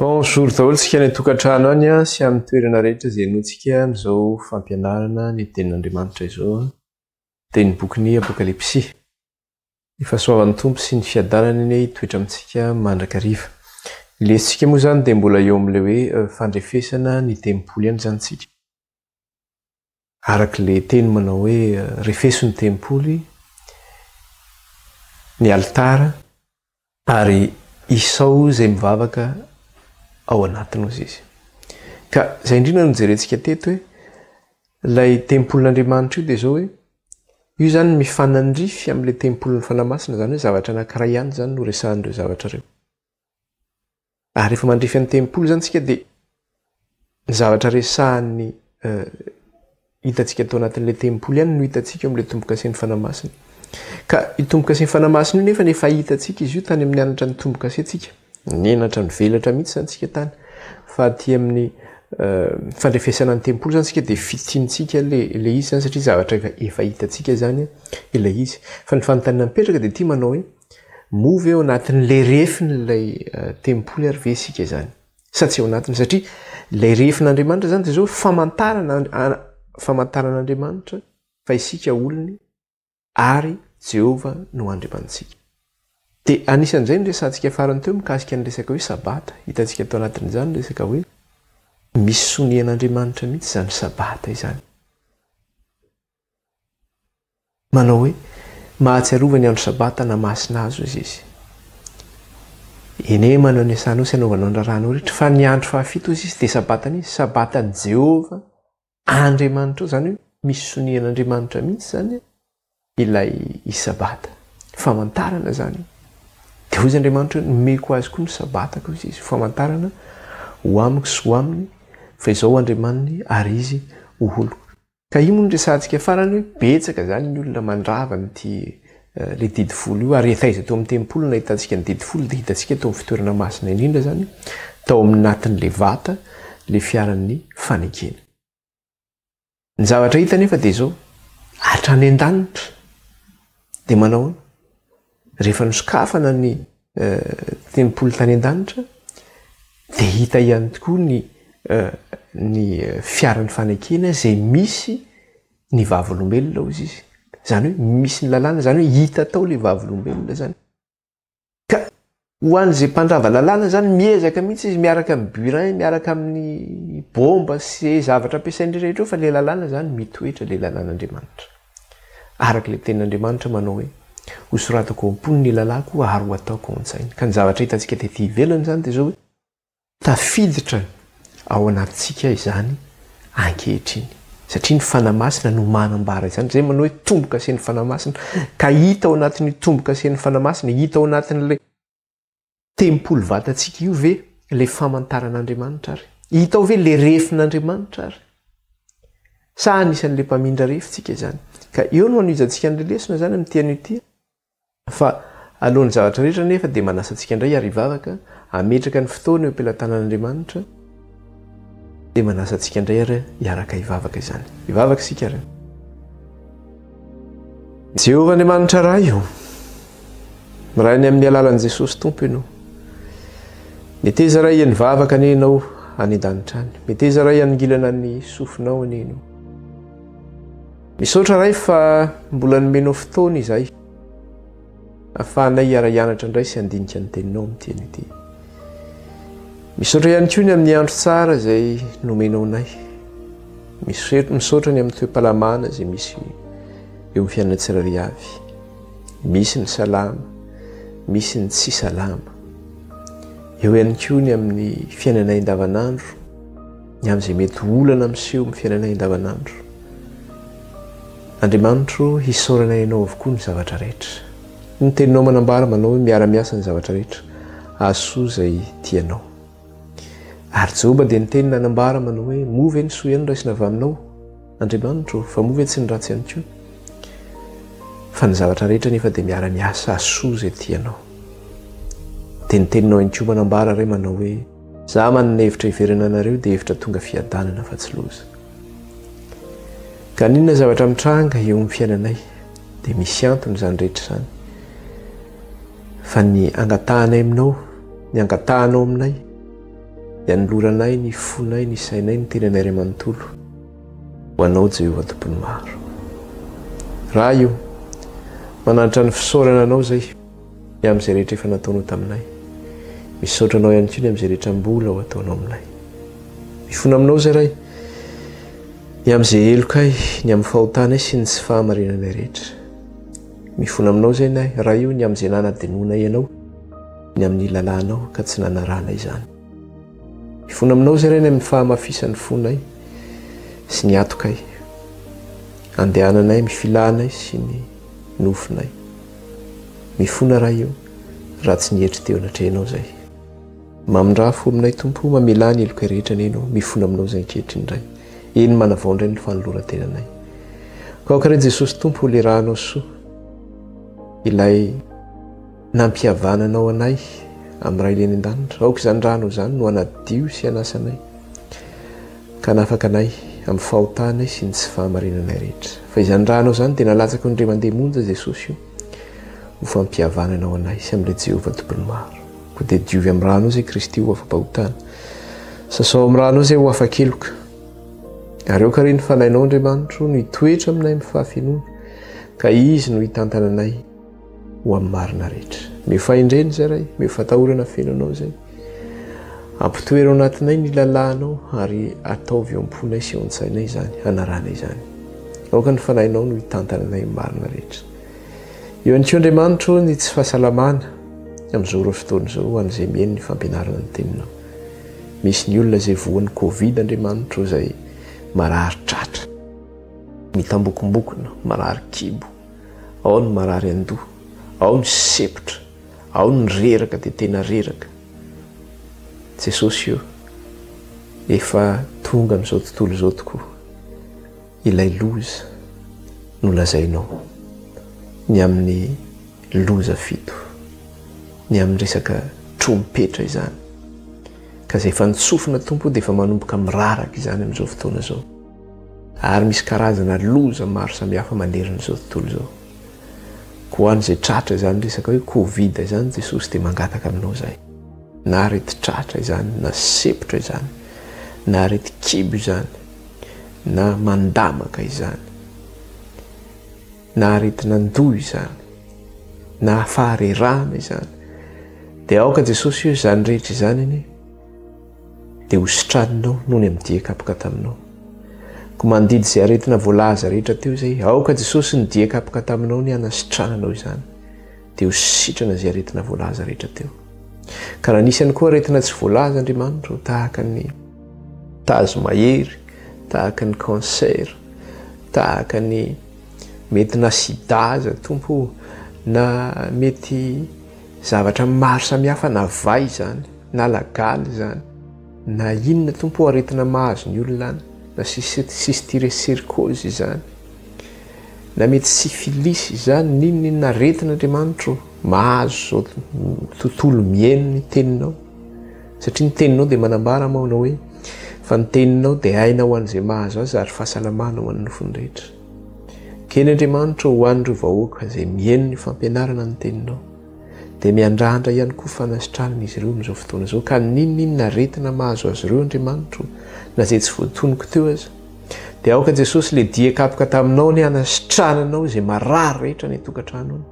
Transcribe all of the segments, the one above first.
Bonjour daholo tsika any an-tokantrano any a, sy amin'ny toerana rehetra izay henoantsika amin'izao fampianarana ny tenin'Andriamanitra izao a, dia ny bokin'ny Apokalypsy. Ny fahasoavan'ny Tompo sy ny fiadanany anie hitoetra amintsika mandrakariva. Ny lesintsika moa izany dia mbola eo amin'ilay hoe fandrefesana ny tempoly ihany izany tsika. Araka ilay teny manao hoe refeso ny tempoly, ny alitara, ary isao izay mivavaka ao anatiny hozy izy. Ka izay indrindra no nojerentsika teto hoe ilay tempolin'Andriamanitra io dia izao hoe io izany mifanandrify amin'ilay tempolin'ny Fanahy Masina, izany hoe zavatra anankiray ihany izany no resahan'ireo zavatra ireo. Ary rehefa mandrefy ny tempoly zany tsika dia ny zavatra resahan'ny hitantsika ato anatin'ilay tempoly ihany no hitantsika eo amin'ilay tombokasen'ny fanahy masina. Ka io tombokasen'ny fanahy masina io nefa ny efa hitantsika izy io tany amin'ny anatra ny tombokasentsika. Nenatra nivelatra mihitsy zany tsika tany. Fa aty amin'ny fandrefesana ny tempoly zany tsika dia fitintsika le le izy zany satria zavatra efa hitantsika zany ilay izy. Fa ny fanontaniana mipetraka dia ity manao hoe Moa ve ao anatin'ilay refin'ilay tempoly ary ve isika izany? Sa tsy ao anatiny? Satria ilay refin'Andriamanitra izany dia izao famantarana famantaran'Andriamanitra fa isika olony ary Jehovah no Andriamanitsika. Dia anisan'izay ny resantsika farany teo mikasika ny resaka hoe sabata. Hitantsika tao anatin'izany ny resaka hoe misy sonian'Andriamanitra mihitsy izany sabata izany. Manao hoe, Mahatsiarova ny andro Sabata na masina azy hozy izy. Ene manao ny asanao sy anaovanao ny raharahanao rehetra, fa ny andro fahafito hozy izy dia Sabatan'izy, Sabatan'i Jehovah Andriamanitrao. Izany hoe misy sonian'Andriamanitra mihitsy izany ilay izy Sabata. Famantarana izany io. Dia hozy Andriamanitra hoe, Nomeko azy koa ny Sabatako hozy izy, ho famantarana ho amiko sy ho aminy fa izaho Andriamaniny ary izy ho oloko. Ka io moa no resahantsika farany hoe betsaka izany ny olona mandrava an'ity ilay didy folo io ary efa iza teo amin'ny tempoly no nahitantsika ny didy folo dia hitantsika teo amin'ny fitoerana masina indrindra izany tao amin'ny natin'ilay vata ilay fiaran'ny fanekena. Ny zavatra hita anefa dia izao, hatrany an-danitra dia manahoana? Rehefa nosokafana ny tempoly tany an-danitra, dia hita ihany tokoa ny ny fiaran'ny fanekena izay misy ny vavolombelona hozy izy. Izany hoe misy ny lalàna, izany hoe hita tao ilay vavolombelona izany. Ka Ho an'izay mpandrava lalàna izany, miezaka mihitsy izy miaraka amin'ny burin, miaraka amin'ny bomba sy izay zavatra ampiasain'ireo rehetra eo fa ilay lalàna izany mitoetra ilay lalàn'Andriamanitra. Araka ilay tenin'Andriamanitra manao hoe, Hosoratako ao am-pony ny lalàko ary ho ataoko ao an-tsainy. Ka ny zavatra hitantsika tety ivelany izany dia izao hoe, Tafiditra ao anatintsika izany ankehitriny, satria ny Fanahy Masina no manambara izany. Izay manao hoe tombo-kasen'ny Fanahy Masina, ka hita ao anatin'io tombo-kasen'ny Fanahy Masina, hita ao anatin'ilay tempoly vatantsika io ve ilay famantaran'Andriamanitra ary? Hita ao ve ilay refin'Andriamanitra ary? Sa anisan'ilay mpamindra refy tsika izany? Ka eo no hanohijantsika an'ilay lesona izany amin'ity anio ity. Fa alohan'ny zavatra rehetra anefa dia manasa antsika indray hiara hivavaka, hametraka ny fotoana eo am-pelatanan'Andriamanitra, dia manasa antsika indray ary hiaraka hivavaka izany. Hivavaka isika ary. Jehovah Andriamanitra Ray o! Miray ny amin'ny alalan'i Jesosy Tompo Ianao. Meteza ray ny vavaka anie Ianao any an-danitra any. Meteza ray hanongilana ny sofinao anie Ianao. Misaotra Ray fa mbola nomenao fotoana izay afahanay hiara-hianatra indray sy handinika ny teninao amin'ny teny ity. Misaotra ihany koa ny amin'ny andro tsara izay nomenao anay. Misaotra ny amin'ny toe-palamana izay misy eo amin'ny fiainana tsirairay avy. Misy ny salama, misy ny tsy salama. Eo ihany koa ny amin'ny fiainanay andavanandro. ny amin'izay mety olana miseho amin'ny fiainanay andavanandro. Andriamanitro, hisaorana ianao avokoa ny zavatra rehetra. Ny teninao manambara manao hoe miara-miasa ny zavatra rehetra ahasoa izay tianao. Ary Joba dia niteny nanambara manao hoe moa ve ny soa ihany raisina avy aminao, Andriamanitro, fa moa ve tsy ny ratsy ihany koa? Fa ny zavatra rehetra nefa dia miara-miasa ahasoa izay tianao. Dia ny teninao ihany koa manambara re manao hoe Za man ny hevitra hiverina anareo dia hevitra tonga fiadanana fa tsy loza. Ka n'inona zavatra mitranga eo amin'ny fiainanay dia misy antony izany rehetra izany. Fa ny angatahanay aminao, ny angatahanao aminay, ny anoloranay ny fonay, ny sainay, ny tenanay iray manontolo ho anao Jehovah tompon'ny maro. Raha io, mananatra ny fisaorana anao izay. Ny amin'izay rehetra efa nataonao taminay. Misaotra Anao ihany koa ny amin'izay rehetra mbola ho ataonao aminay. Mifona aminao izay Ray, ny amin'izay helokay, ny amin'ny fahotanay sy ny tsy fahamarinanay rehetra. Mifona aminao izay nay, Ray o, ny amin'izay nanadinoanay Ianao, ny amin'ny lalànao ka tsy nanarahanay izany. Mifona aminao izay Ray ny amin'ny fahamafisan'ny fonay sy ny atokay, andehananay, amin'ny filànay sy ny nofinay. Mifona raha io raha tsy nietry teo anatrehanao zay. Mamindraha fo aminay Tompo o mamelà ny helokay rehetra neny o mifona aminao zay ankehitriny ray eny manavao indray ny fanolorantenanay kaoka ray Jesosy Tompo ho lerahanao soa ilay nampihavananao anay amin'ny ray leny an-danitra aoka izany ranao izany no hanadio sy hanasa anay Ka hanafaka anay amin'ny fahotanay sy ny tsy fahamarinanay rehetra. Fa izany raha hanao izany dia nalatsako ny indray mandeha monja Jesosy io ho fampihavanana ho anay sy amin'ilay Jehovah Tompony Maro. Koa dia diovy amin'ny rà Anao izay Kristy ho afa-pahotana. Sasao amin'ny rà Anao izay ho afa-keloka. Ary aoka re ny Fanahinao Andriamanitro no hitoetra aminay amin'ny fahafenoana ka Izy no hitantana anay. ho amin'ny marina rehetra. Meo fahendrena izay Ray, meo fatahorana feno Anao izay. Ampitoero anatinay ny lalànao ary ataovy eo am-ponay sy eo an-tsainay izany, hanarana izany. Aoka ny fanahinao no hitantana anay marina rehetra. Eo ihany koa Andriamanitro ny tsy fahasalamana amin'izao ireo fotoana izao ho an'izay mihaino ny fampianarana ny teninao. Misy ny olona izay voan'ny Covid Andriamanitro izay marary tratra, mitambokombokona, marary kibo. Ao ny marary an-doha, ao ny sempotra, ao ny reraka dia tena reraka. Jesosy o, efa tonga amin'izao tontolo izao tokoa ilay loza nolazainao, ny amin'ny loza fito, ny amin'ny resaka trompetra izany. Ka izay efa nitsofina Tompo dia efa manomboka miraraka izany amin'izao fotoana izao. Ary misy karazana loza maro samihafa manerana izao tontolo izao. Koa ho an'izay tratra izany resaka hoe covid izany, Jesosy dia mangataka aminao izay. Na aretin-tratra izany, na sepotra izany, na aretin-kibo izany, na mandamaka izany, na aretin'andoha izany, na faharerahana izany, dia aoka Jesosy eo izany rehetra izany anie. dia ho sitraninao noho ny amin'ny dia kapoka taminao. Koa mandidy izay aretina voalaza rehetra teo izay, aoka Jesosy ny dia kapoka taminao ny hanasitrananao izany, dia ho sitrana izay aretina voalaza rehetra teo. Ka raha nisy ihany koa aretina tsy voalaza Andriamanitra, tahaka ny tazo mahery, tahaka ny cancer, tahaka ny mety na sida aza tompo, na mety zavatra maro samihafa na vay izany, na lagaly izany na inona tompo o aretina mahazo ny olona any na cystiresircose izany na mety syphilis izany n'inona inona aretina andriamanitro mahazo zao tontolo mihaino ny teninao satria ny teninao dia manambara mao anao hoe fa ny teninao dia aina ho an'izay mahazo azy ary fahasalamana ho an'ny nofony rehetra kely andriamanitro ho an'ireo vahoaka izay mihaino ny fampianarana ny teninao Dia miandrandra ihany koa fanasitranana izy ireo amin'izao fotoana izao, ka n'inon'inona aretina mahazo azy ireo, Andriamanitro, na izay tsy voatonoko teo aza. Dia aoka Jesosy ilay dia kapoka taminao ny hanasitrananao izay marary rehetra any an-tokantrano any.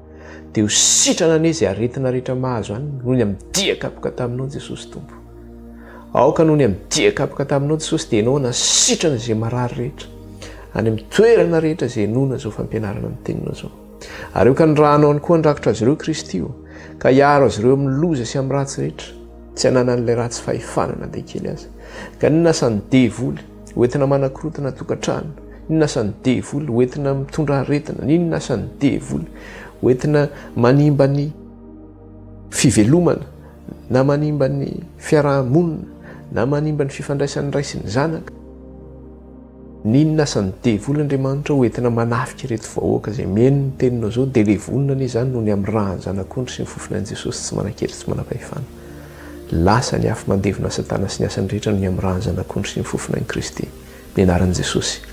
Dia ho sitrana anie izay aretina rehetra mahazo any, noho ny amin'ny dia kapoka taminao Jesosy Tompo. Aoka noho ny amin'ny dia kapoka taminao Jesosy dia ianao hanasitrana izay marary rehetra, any amin'ny toerana rehetra izay inoana izao fampianarana ny teninao izao. Ary eokany raha hanao ny koa handrakitra azy ireo Kristy o, ka hiaro azy ireo amin'ny loza sy amin'ny ratsy rehetra, tsy ananan'ilay ratsy fahefana na dia kely aza. Ka inona asan' ny devoly? Hoentina manakorontana tokantrano. Inona asan' ny devoly? Hoentina mitondra aretina. Inona asan' ny devoly? Hoentina manimba ny fivelomana na manimba ny fiaraha-monina na manimba ny fifandraisan'ny ray sy ny zanaka. N'inona asan'ny devoly Andriamanitra ho entina manafika ireto vahoaka izay mihaino ny teninao izao dia ilay vonona anie izany no ny amin'ny ran'ny Zanak'ondry sy ny fofon'i Jesosy tsy manan-kery sy manam-pahefana. Lasa ny afo mandevona Satana sy ny asany rehetra no ny amin'ny ran'ny Zanak'ondry sy ny fofon'Ain'i Kristy. Ny anaran'i Jesosy.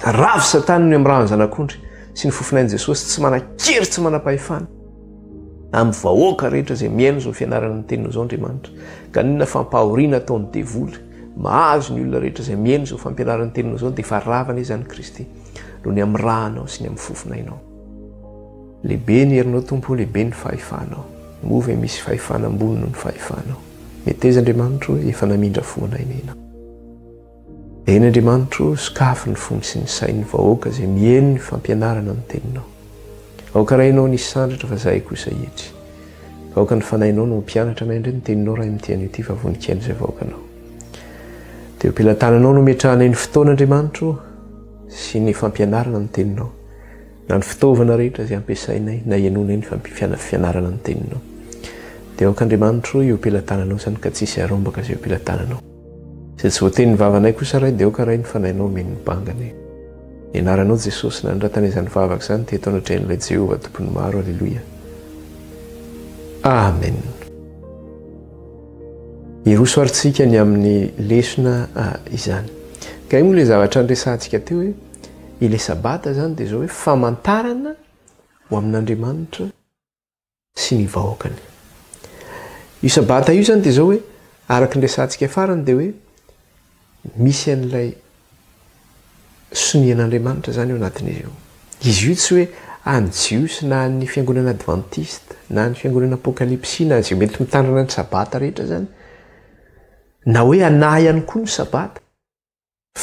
Ravo satana ny amirahan'ny zanak'ondry sy ny fofonay Jesosy tsy manan-kery tsy manam-pahefana amin'ny vahoaka rehetra izay mihaino izao fianarana ny teniny izao Andriamanitra. Ka ninona fampahoriana ataon'ny devoly mahazo ny olona rehetra izay mihaino izao fampianarana ny teniny izao dia efa ravana izany Kristy noho ny amirahanao sy ny amin'ny fofonainao. Lehibe ny herinao Tompo, lehibe ny fahefanao. Moa ve misy fahefana ambony noho ny fahefanao? Meteza Andriamanitro hoe efa namindra fo anay nena. Eny Andriamanitro sokafy ny fony sy ny sain'ny vahoaka izay mieno ny fampianarana ny teninao. Aoka Rainao ny hisandratra fa zahay kosa hietry. Ka aoka ny Fanahinao no hampianatra anay indray ny teninao Ray amin'ity anio ity fa voninkaino izay vahoakanao. Dia eo am-pelatananao no ametrahanay ny fotoana Andriamanitro sy ny fampianarana ny teninao. Na ny fitaovana rehetra izay ampiasainay na ianonay ny fampifianana fianarana ny Teninao. Dia aoka Andriamanitro io pelatananao izany ka tsy hisy harombaka izay io pelatananao. Izay tsy voatenin'ny vavanay kosa Ray dia aoka Ray ny Fanahinao omeny ny bangany. Ny Anaranao Jesosy nanondratana izany vavaka izany teto anatrehan'ilay Jehovah Tompon'ny maro. Aleloia. Amen. Hiroso ary tsika ny amin'ny lesona izany. Kay moa ilay zavatra niresahantsika teo e. Ilay Sabata izany dia izao hoe famantarana ho amin'Andriamanitra sy ny vahoakany. Io Sabata io izany dia izao hoe araka ny resahantsika farany dia hoe misy an'ilay sonia an'Andriamanitra izany eo anatin'izy io. Izy io tsy hoe an'ny Jiosy na an'ny fiangonana advantista na an'ny fiangonana apokalipsy na izay mety mitandrina ny Sabata rehetra izany na hoe anà ihany koa ny Sabata.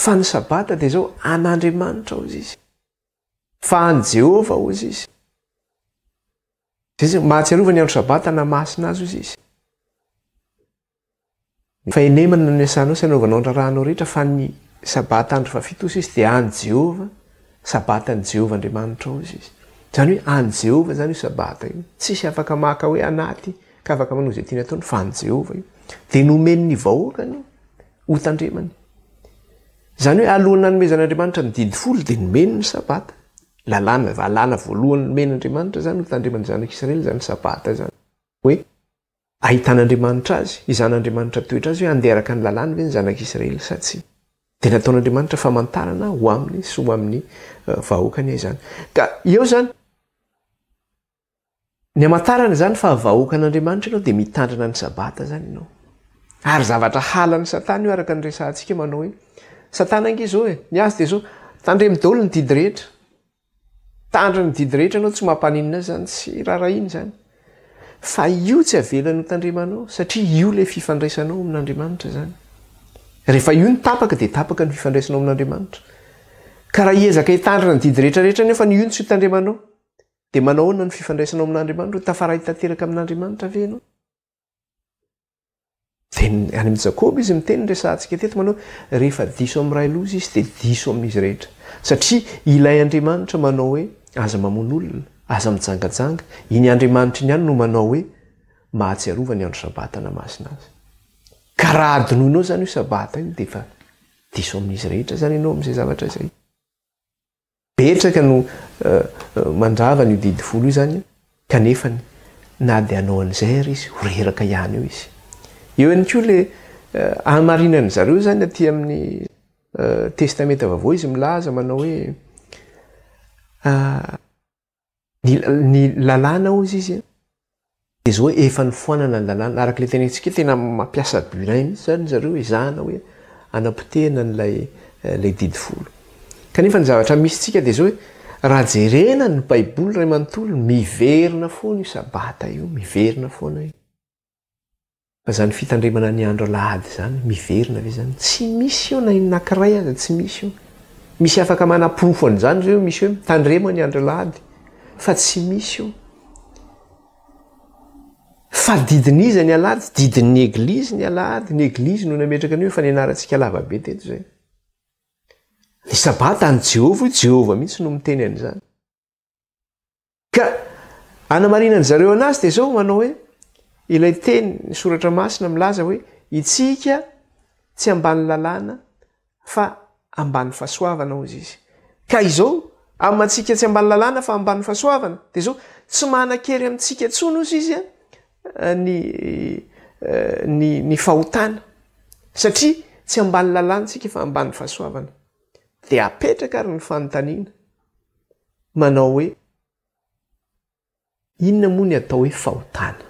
Fa ny Sabata dia izao, an'Andriamanitra, hozy izy. Fa an'i Jehovah, hozy izy. Izay mahatsiarova ny andro Sabata na masina azy, hozy izy. Fa enemana no niasanao sy anaovanao ny raharahanao rehetra, fa ny Sabata andro fahafito, hozy izy, dia an'i Jehovah, Sabatan'i Jehovah Andriamanitra, hozy izy. Izany hoe an'i Jehovah izany io Sabata io. Tsisy afaka maka hoe anaty ka afaka manao izay tiany ataony, fa an'i Jehovah io. Dia nomen'ny vahoakany io. Hotandremany. Izany hoe alohan'ny nanomezan'Andriamanitra ny Didy Folo dia nomeny ny Sabata. Lalàna, lalàna voalohany nomen'Andriamanitra izany hotandreman'ny zanak'Israely izany Sabata izany. Hoe ahitan'Andriamanitra azy, hizan'Andriamanitra toetra azy hoe handeha araka ny lalàny ve ny zanak'Israely sa tsia. Dia nataon'Andriamanitra famantarana ho aminy sy ho amin'ny vahoakany izany. Ka eo izany. Ny hamantarana izany fa vahoaka an'Andriamanitra ianao dia mitandrina ny Sabata izany ianao. Ary zavatra halan'i Satana io araka ny resahantsika manao hoe, Satana ange izao e, ny azy dia izao, tandremo daholo ny didy rehetra. Tandriny ny didy rehetra ianao, tsy mampaninona azy izany, tsy raharahiany izany. Fa io tsy avelany ho tandremanao satria io ilay fifandraisanao amin'Andriamanitra izany. Rehefa io no tapaka dia tapaka ny fifandraisanao amin'Andriamanitra. Ka raha hiezaka hitandrina ny didy rehetra rehetra nefa ny io no tsy ho tandremanao, Dia manao ahoana ny fifandraisanao amin'Andriamanitra? Ho tafaray tanteraka amin'Andriamanitra ve ianao? Dia any amin'ny Jakoba izy miteny resahantsika teto manao rehefa diso amin'ny ray loza izy dia diso amin'izy rehetra. Satria ilay Andriamanitra manao hoe aza mamono olona, aza mijangajanga, iny Andriamanitra iny ihany no manao hoe mahatsiarova ny andro sabata na masina azy. Ka raha adinoinao izany io sabata io dia efa diso amin'izy rehetra izany ianao amin'izay zavatra izay. Betsaka no mandrava an'io didy folo io izany kanefany na dia hanao an'izay ary izy ho reraka ihany eo izy. Eo ihany koa ilay hamarinan'ny zareo izany aty amin'ny Testamenta Vaovao izy milaza manao hoe Ny, ny lalàna hozy izy an, dia izao hoe efa nifoanana ny lalàna, araka ilay tenentsika, tena mampiasa burin mihintsy izany ry zareo ezahana hoe hanapotehina an'ilay, ilay didy folo. Kanefa ny zavatra misy tsika dia izao hoe, raha jerena ny baiboly iray manontolo, miverina foana io sabata io, miverina foana io. Fa izany fitandremana ny andro alahady izany miverina ve izany? Tsy misy eo na inona kiray aza tsy misy eo. Misy afaka manaporofo an'izany ve eo misy hoe mitandrema ny andro alahady? Fa tsy misy eo. Fa didin'iza ny alahady? Didin'ny eglizy ny alahady. Ny eglizy no nametraka an'io efa nianarantsika lavabe teto izay. Ny sabata an'i Jehovah io, Jehovah mihitsy no miteny an'izany. Ka anamarinan'ny zareo anazy dia izao manao hoe ilay teny ny soratra masina milaza hoe itsika tsy ambany lalàna fa ambany fasoavana hozy izy. Ka izao amantsika tsy ambany lalàna fa ambany fasoavana dia izao tsy manan-kery amintsika intsony hozy izy an ny ny ny fahotana satria tsy ambany lalàna tsika fa ambany fasoavana. Dia apetraka ary ny fanontaniana. manao hoe, Inona moa ny atao hoe fahotana?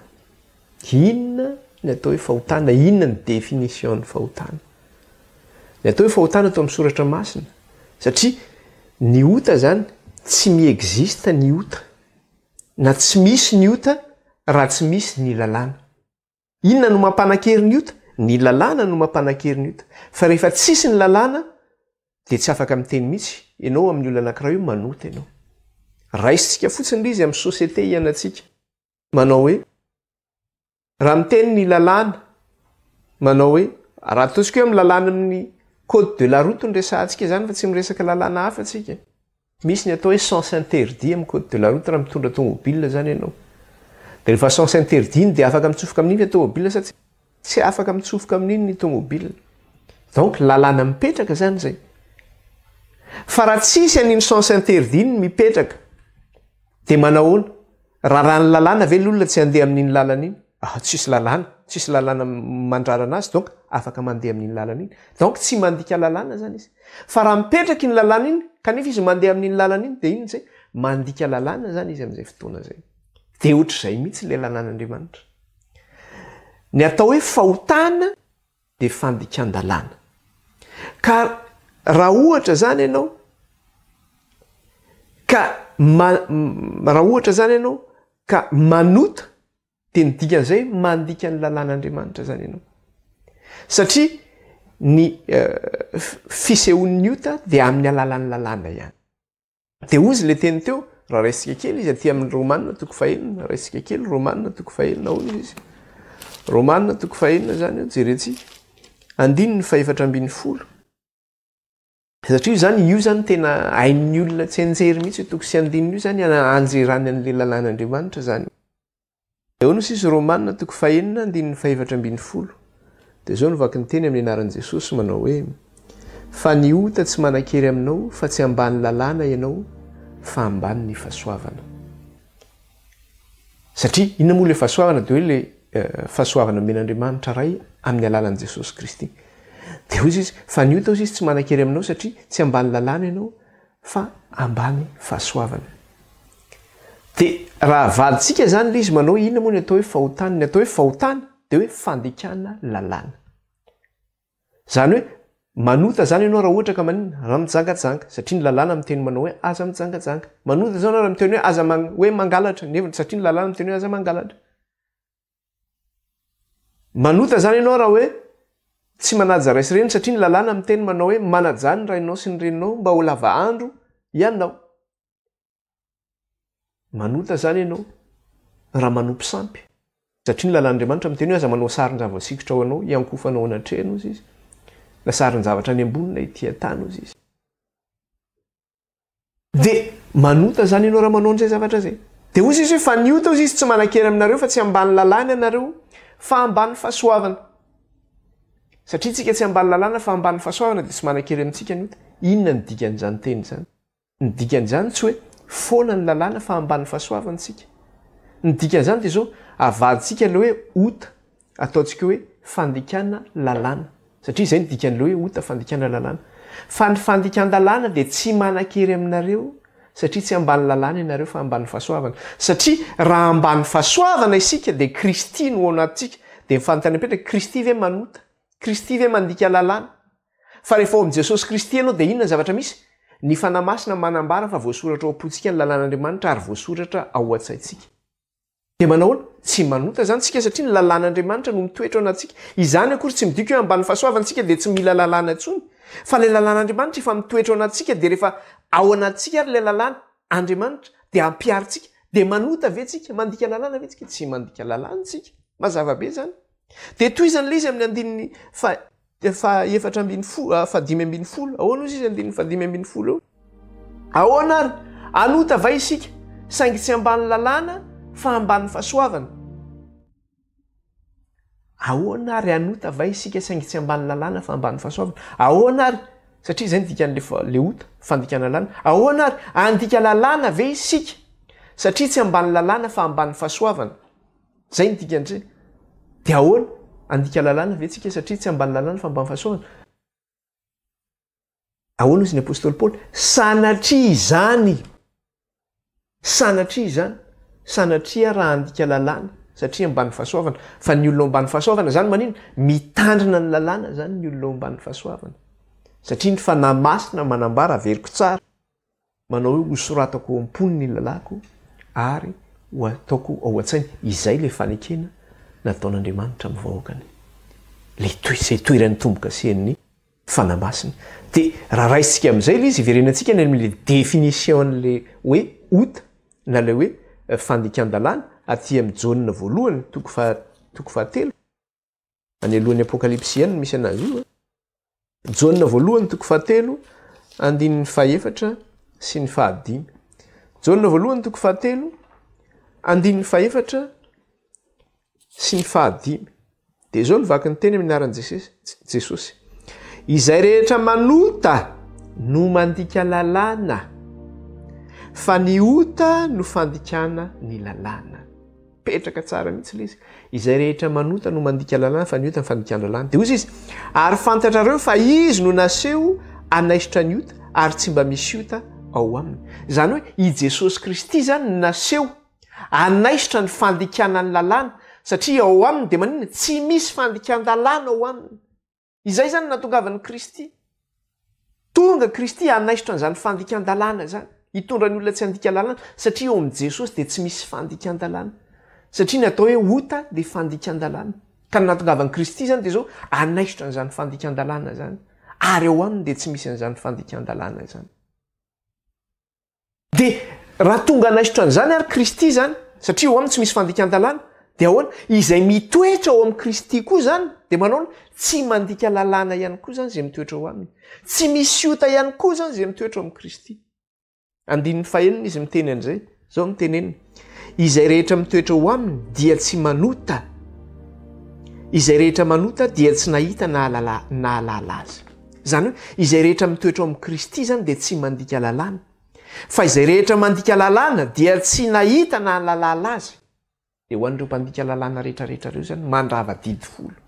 Inona ny atao hoe fahotana? Inona ny définition-n'ny fahotana? Ny atao hoe fahotana eto amin'ny soratra masina, satria ny ota izany, tsy mi-existe ny ota, na tsy misy ny ota raha tsy misy ny lalàna. Inona no mampanan-kery ny ota? Ny lalàna no mampanan-kery ny ota. Fa rehefa tsisy ny lalàna dia tsy afaka miteny mihitsy ianao amin'ny olona anankiray hoe manota ianao. Raisintsika fotsiny ilay izy amin'ny société ianantsika. Manao hoe, raha miteny ny lalàna, manao hoe, raha ataontsika hoe amin'ny lalànan'ny code de la route no resahantsika izany fa tsy miresaka lalàna hafa tsika. Misy ny atao hoe sens interdit amin'ny code de la route raha mitondra tomobilina izany ianao. Dia rehefa sens interdit iny dia afaka mitsofoka amin'iny ilay tomobilina sa tsia? Tsy afaka mitsofoka amin'iny ny tomobilina. Donc lalàna mipetraka izany izay. Fa raha tsisy an'iny sens interdit iny mipetraka dia manahoana? Raràn'ny lalàna ve ny olona tsy handeha amin'iny lalana iny? Ah, tsisy lalàna, tsisy lalàna mandrarana azy donc afaka mandeha amin'iny lalana iny. Donc tsy mandika lalàna zany izy. Fa raha mipetraka iny lalàna iny kanefa izy mandeha amin'iny lalana iny dia iny amin'izay mandika lalàna zany izy amin'izay fotoana izay. Dia ohatr'izay mihitsy ilay lalàn'Andriamanitra. Ny atao hoe fahotana. dia fandikan-dalàna. Ka raha ohatra izany ianao ka raha ohatra izany ianao ka manota dia ny dikan'izay mandika ny lalàn'Andriamanitra izany ianao. Satria ny fisehoan'ny ota dia amin'ny alalan'ny lalàna ihany. Dia hoy izy le teny teo, raha raisika kely izy aty amin'ny Romanina toko fahenina, raisika kely Romanina toko fahenina ahoana izy izy. Romanina toko fahenina izany eo, jerentsika. Andininy fahefatra ambin'ny folo. Satria io zany, io zany tena hain'ny olona tsianjery mihitsy io toko sy andininy io zany anjerany an'le lalàn'Andriamanitra zany. Eo no sisy Romana toko fahenina andininy fahefatra ambin'ny folo dia izao no vakiny teny amin'ny anaran'i Jesosy manao hoe, Fa ny ota tsy manan-kery aminao fa tsy ambany lalàna ianao fa ambany ny fahasoavana. Satria inona moa ilay fahasoavana dia hoe ilay fahasoavana omen'Andriamanitra Ray amin'ny alalan'i Jesosy Kristy. Dia hoy Izy, fa ny ota hoy Izy tsy manan-kery aminao satria tsy ambany lalàna ianao fa ambany fahasoavana. Dia raha avadintsika izany ilay izy manao inona moa ny atao hoe fahotana? Ny atao hoe fahotana dia hoe fandikana lalàna. Izany hoe manota izany ianao raha ohatra ka maninona? Raha mijangajanga, satria ny lalàna miteny manao hoe aza mijangajanga. Manota izany ianao raha miteny hoe aza hoe mangalatra, nefa satria ny lalàna miteny hoe aza mangalatra. Manota zany ianao raha hoe tsy manaja ray sy reny satria ny lalàna miteny manao hoe manajà ny rainao sy ny reninao mba ho lava andro ianao. Manota zany ianao raha manopy sampy satria ny lalàn'Andriamanitra miteny hoe aza manao sarin-java-tsikotra ho anao hiankofanao anatrehan' ozy izy na sarin-javatra any ambony na ety an-tany ozy izy. Dia manota izany ianao raha manao an'izay zavatra izay. Dia hoy Jesoa hoe fa ny ota hoy izy tsy manan-kery aminareo fa tsy ambany lalàna ianareo fa ambany fahasoavana. Satria isika tsy ambany lalàna fa ambany fahasoavana dia tsy manan-kery amintsika ny ota. Inona ny dikan'izany teny izany? Ny dikan'izany tsy hoe foana ny lalàna fa ambany fahasoavana isika. Ny dikan'izany dia izao, avadintsika ilay hoe ota Ataontsika hoe fandikana lalàna, satria izay no dikan'ilay hoe ota, fandikana lalàna. Fa ny fandikan-dalàna dia tsy manan-kery aminareo, satria tsy ambany lalàna ianareo fa ambany fahasoavana. Satria raha ambany fahasoavana isika dia Kristy no ao anatintsika, dia ny fanontaniana mipetraka, Kristy ve manota? Kristy ve mandika lalàna? Fa rehefa ao amin'i Jesosy Kristy ianao dia inona ny zavatra misy? Ny Fanahy Masina manambara fa voasoratra ao am-pontsika ny lalàn'Andriamanitra ary voasoratra ao an-tsaintsika. Dia manahoana? Tsy manota izany isika satria ny lalàn'Andriamanitra no mitoetra ao anatintsika. Izany akory tsy midika hoe ambany fahasoavany isika dia tsy mila lalàna intsony. Fa ilay lalàn'Andriamanitra efa mitoetra ao anatintsika dia rehefa ao anatintsika ary ilay lalàna, Andriamanitra, dia ampiaro antsika. Dia manota ve tsika? Mandika lalàna ve tsika? Tsy mandika lalàna isika. Mazava be izany. Dia tohizan'ilay izy amin'ny andininy faha Dia fa efatra ambin'ny folo, ah, fa dimy ambin'ny folo. Ahoana hozy izy andininy fa dimy ambin'ny folo eo? Ahoana ary? Anota va isika, saingy tsy ambany lalàna fa ambany fahasoavana? Ahoana ary? Anota va isika, saingy tsy ambany lalàna fa ambany fahasoavana? Ahoana ary? Satria izay ny dikan'le fa, le ota, fandikana lalàna. Ahoana ary? Andika lalàna ve isika, satria tsy ambany lalàna fa ambany fahasoavana? Zay ny dikany zay. De ahoana? Handika lalàna ve tsika satria tsy ambany lalàna fa ambany fahasoavana? Ahoana hozy ny apostoly Paoly? Sanatria izany! Sanatria izany! Sanatria raha handika lalàna satria ambany fahasoavana. Fa ny olona ao ambany fahasoavana zany manina? Mitandrina ny lalàna zany ny olona ao ambany fahasoavana. Satria ny fanahy masina manambara, averiko tsara, Manao hoe ho soratako ao am-pony ny lalàko ary ho ataoko ao an-tsaina. Izay ilay fanekena nataon'Andriamanitra amin'ny vahoakany. Ilay toy izay toeran'ny tombo-kasen'ny Fanahy Masina. Dia raha raisintsika amin'izay ilay izy, hiverenantsika any amin'ilay définition-n'ilay hoe ota na ilay hoe fandikan-dalàna aty amin'ny Jaona voalohany toko faha toko fahatelo. Any alohan'ny Apokalypsy ihany no misy anazy io. Jaona voalohany toko fahatelo, andininy fahefatra sy ny fahadimy. Jaona voalohany toko fahatelo, andininy fahefatra sy ny fahadimy. Dia izao ny vaky ny teny amin'ny anaran'i Jesosy. Izay rehetra manota no mandika lalàna, fa ny ota no fandikana ny lalàna. Mipetraka tsara mihitsy ilay izy. Izay rehetra manota no mandika lalàna fa ny ota ny fandikan-dralàna. Dia hoy izy, ary fantatrareo fa izy no naseho hanaisotra ny ota ary tsy mba misy ota ao aminy. Izany hoe i Jesosy Kristy izany no naseho hanaisotra ny fandikana ny lalàna satria ao aminy dia maninona? Tsy misy fandikan-dalàna ao aminy. Izay izany no nahatongavan'i Kristy. Tonga Kristy hanaisotra an'izany fandikan-dalàna izany, hitondra ny olona tsy handika lalàna, satria eo amin'i Jesosy dia tsy misy fandikan-dalàna. Satria ny atao hoe ota dia fandikan-dalàna. Ka ny nahatongavan'i Kristy izany dia izao, hanaisotra an'izany fandikan-dalàna izany. Ary ao Aminy dia tsy misy an'izany fandikan-dalàna izany. Dia raha tonga hanaisotra an'izany ary Kristy izany, satria ao aminy tsy misy fandikan-dalàna, dia ahoana? Izay mitoetra ao amin'i Kristy koa izany, dia manao ny tsy mandika lalàna ihany koa izany izay mitoetra ao aminy. Tsy misy ota ihany koa izany izay mitoetra ao amin'i Kristy. Andininy fahenina izy miteny an'izay. Izao no teneniny. Izay rehetra mitoetra ho aminy dia tsy manota, izay rehetra manota dia tsy nahita na ahalala na hahalala azy. Izany hoe izay rehetra mitoetra ao amin'i Kristy izany dia tsy mandika lalàna. Fa izay rehetra mandika lalàna dia tsy nahita na nahalala azy. Dia ho an'ireo mpandika lalàna rehetrarehetra ireo izany mandrava didy folo,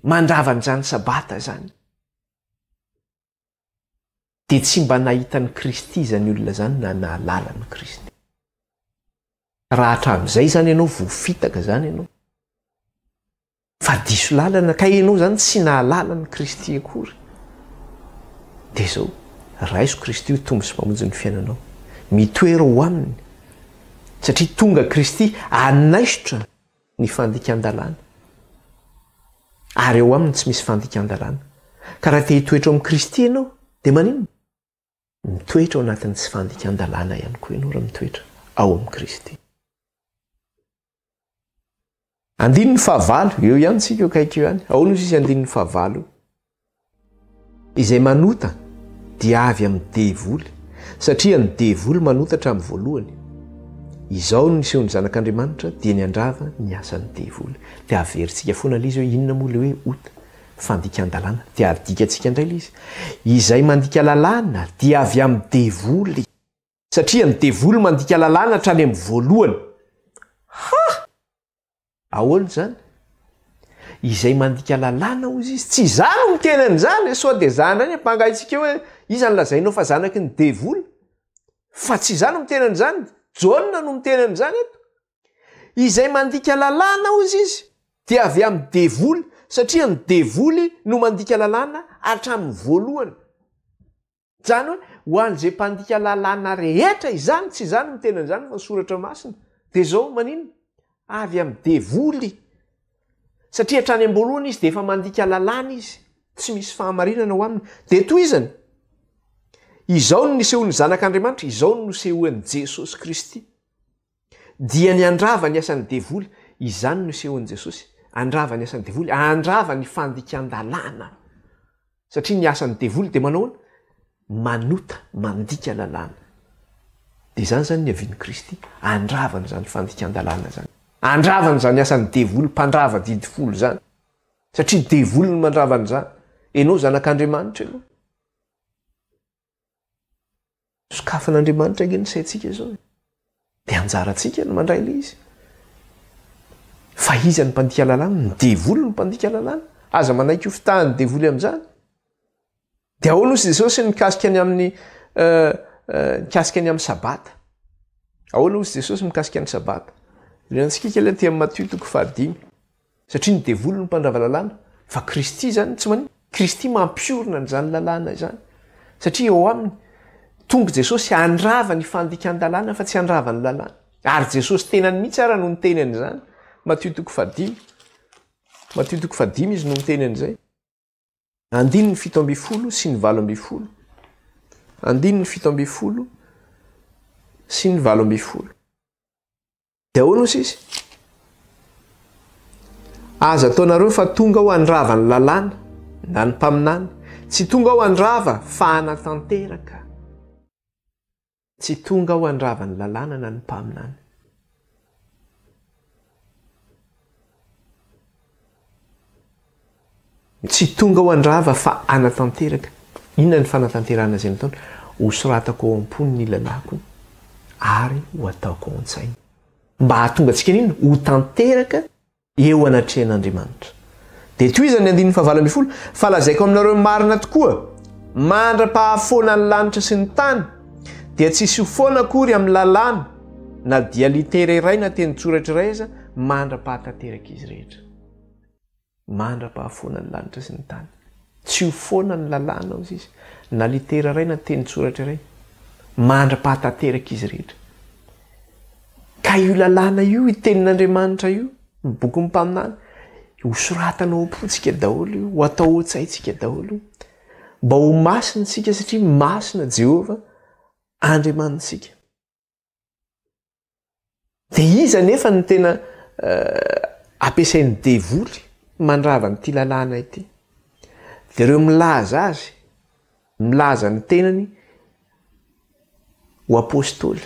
mandrava an'izany Sabata izany. dia tsy mba nahita an'i Kristy izany olona izany na nahalala an'i Kristy. Raha hatramin'izay izany ianao vao fitaka izany ianao, fa diso lalana ka ianao izany tsy nahalala an'i Kristy akory, dia izao, raiso Kristy ho Tompo sy Mpamonjy ny fiainanao. Mitoera ho Aminy, satria tonga Kristy hanaisotra. ny fandikan-dalàna, ary ao Aminy tsy misy fandikan-dalàna. Ka raha te-hitoetra ao amin'i Kristy ianao, dia maninona? Mitoetra ao anatin'ny tsy fandikan-dalàna ihany koa ianao raha mitoetra ao amin'i Kristy. Andininy fahavalo, eo ihany tsika io akaiky io ihany. Ahoana io sisa andininy fahavalo io? Izay manota dia avy amin'ny devoly, satria ny devoly manota hatramin'ny voalohany. Izao ny nisehoan'ny Zanak'Andriamanitra dia niandrava ny asan'ny devoly. Dia averintsika foana ilay izy hoe inona moa ilay hoe ota? Fandikan-dalàna. Dia adikantsika indray ilay izy. Izay mandika lalàna dia avy amin'ny devoly. satria ny devoly mandika lalàna hatrany amin'ny voalohany. Ha! Ahoana izany? Izay mandika lalàna hozy izy. Tsy izaho no miteny an'izany, sao dia izaho indray ny ampangaintsika eo hoe iza no lazainao fa zanaky ny devoly? Fa tsy izaho no miteny an'izany, Jaona no miteny an'izany eto. Izay mandika lalàna hozy izy dia avy amin'ny devoly, satria ny devoly no mandika lalàna hatramin'ny voalohany. Zany hoe ho an'izay mpandika lalàna rehetra izany, tsy izaho no miteny an'izany fa soratra masina, dia zao, maninona? Avy amin'ny devoly, satria hatrany am-boalohany izy dia efa mandika lalàna izy, tsy misy fahamarinana ao aminy, dia tohizany, izao no nisehoan'ny zanak'Andriamanitra, izao no nosehoan'i Jesosy Kristy. Dia ny handrava ny asan'ny devoly, izany no isehoan'i Jesosy, handrava ny asan'ny devoly, handrava ny fandikan-dalàna. Satria ny asan'ny devoly dia manao ahoana? Manota, mandika lalàna. Dia izany izany ny havian'i Kristy, handrava an'izany fandikan-dalàna izany. Handrava an'izany asan'ny devoly, mpandrava didy folo izany. Satria devoly no mandrava an'izany. Ianao zanak'Andriamanitra ianao. Sokafan'Andriamanitra ange ny saintsika izao. Dia anjarantsika ny mandray ilay izy. Fa iza ny mpandika lalàna? Ny devoly no mpandika lalàna. Aza manaiky ho fitahan'ny devoly amin'izany. Dia ahoana hoy Jesosy mikasika ny amin'ny uh, uh, mikasika ny amin'ny sabata? Ahoana hoy Jesosy mikasika ny sabata? Ilay antsikika ilay aty amin'ny Matio toko fahadimy. Satria ny devoly no mpandrava lalàna, fa Kristy izany tsy maninona. Kristy mampiorina an'izany lalàna izany, satria eo aminy tonga Jesosy handrava ny fandikan-dalàna fa tsy handrava ny lalàna. Ary Jesosy tenany mihitsy ara no niteny an'izany, Matio toko fahadimy, Matio toko fahadimy izy no miteny an'izay. Andininy fito ambin'ny folo sy ny valo ambin'ny folo Andininy fito ambin'ny folo sy ny valo ambin'ny folo Dia ahoana hoy izy? Aza ataonareo fa tonga aho handrava ny lalàna na ny mpaminany, tsy tonga aho handrava fa hanatanteraka. Tsy tonga aho handrava ny lalàna na ny mpaminany. Tsy tonga aho handrava fa hanatanteraka. Inona ny fanatanterahana izay nataony? Hosoratako ao am-pony ny lalàko ary ho ataoko ao an-tsainy. Mba hahatonga antsika an'inona? Ho tanteraka. eo anatrehan'Andriamanitra. Dia tohizany ny andininy fahavalo ambin'ny folo, Fa lazaiko aminareo marina tokoa, mandra-pahafoana ny lanitra sy ny tany, dia tsy hisy ho foana akory amin'ny lalàna, na dia litera iray na tenin-tsoratra iray aza, mandra-pahatanterak'izy rehetra. Mandra-pahafoana ny lanitra sy ny tany. Tsy ho foana ny lalàna, hoy Izy, na litera iray na tenin-tsoratra iray, mandra-pahatanterak'izy rehetra. Ka io lalàna io, io tenin'Andriamanitra io, ny bokin'ny mpaminany, ho soratana ao am-pontsika daholo io, ho atao ao an-tsaintsika daholo io. Mba ho masina isika satria masina Jehovah Andriamanitsika. Dia iza anefa no tena ampiasain'ny devoly mandrava an'ity lalàna ity? Dia ireo milaza azy. Milaza ny tenany ho apostoly,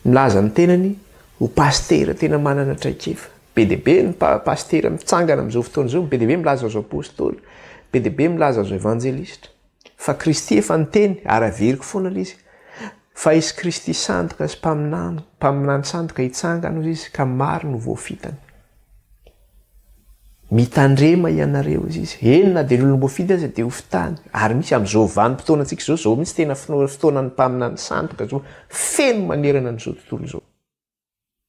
milaza ny tenany ho pasitera tena manana traikefa. Be dia be ny pasitera mitsangana amin'izao fotoana izao, be dia be milaza azy ho apostoly, be dia be milaza azy ho evanjelistra. Fa Kristy efa niteny ary averiko foana ilay izy fa hisy Kristy sandoka sy mpaminany, mpaminany sandoka hitsangana hoy izy ka maro no voafitany. Mitandrema ianareo, hoy izy. Eny, na dia ny olom-boafidy aza dia ho fitany. Ary misy amin'izao vanim-potoanantsika izao, izao mihitsy tena fotoanan'ny mpaminany sandoka izao, feno manerana an'izao tontolo izao.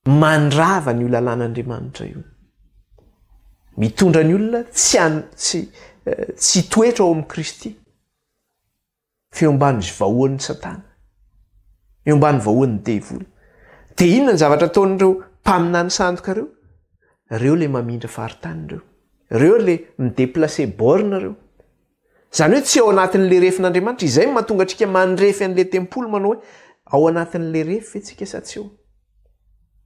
Mandrava an'io lalàn'Andriamanitra io. Mitondra ny olona tsy tsy hitoetra ao amin'i Kristy. fa eo ambanin'izay vahoan'i Satana, eo ambanin'ny vahoan'ny devoly. Dia inona ny zavatra ataon'ireo mpaminany sandoka ireo? Ireo ilay mamindra faritany ireo. Ireo ilay mi-déplacer borne ireo. Izany hoe tsy ao anatin'ilay refin'Andriamanitra. Izay no mahatonga antsika mandrefy an'ilay tempoly manao hoe ao anatin'ilay refy ve tsika sa tsy ao?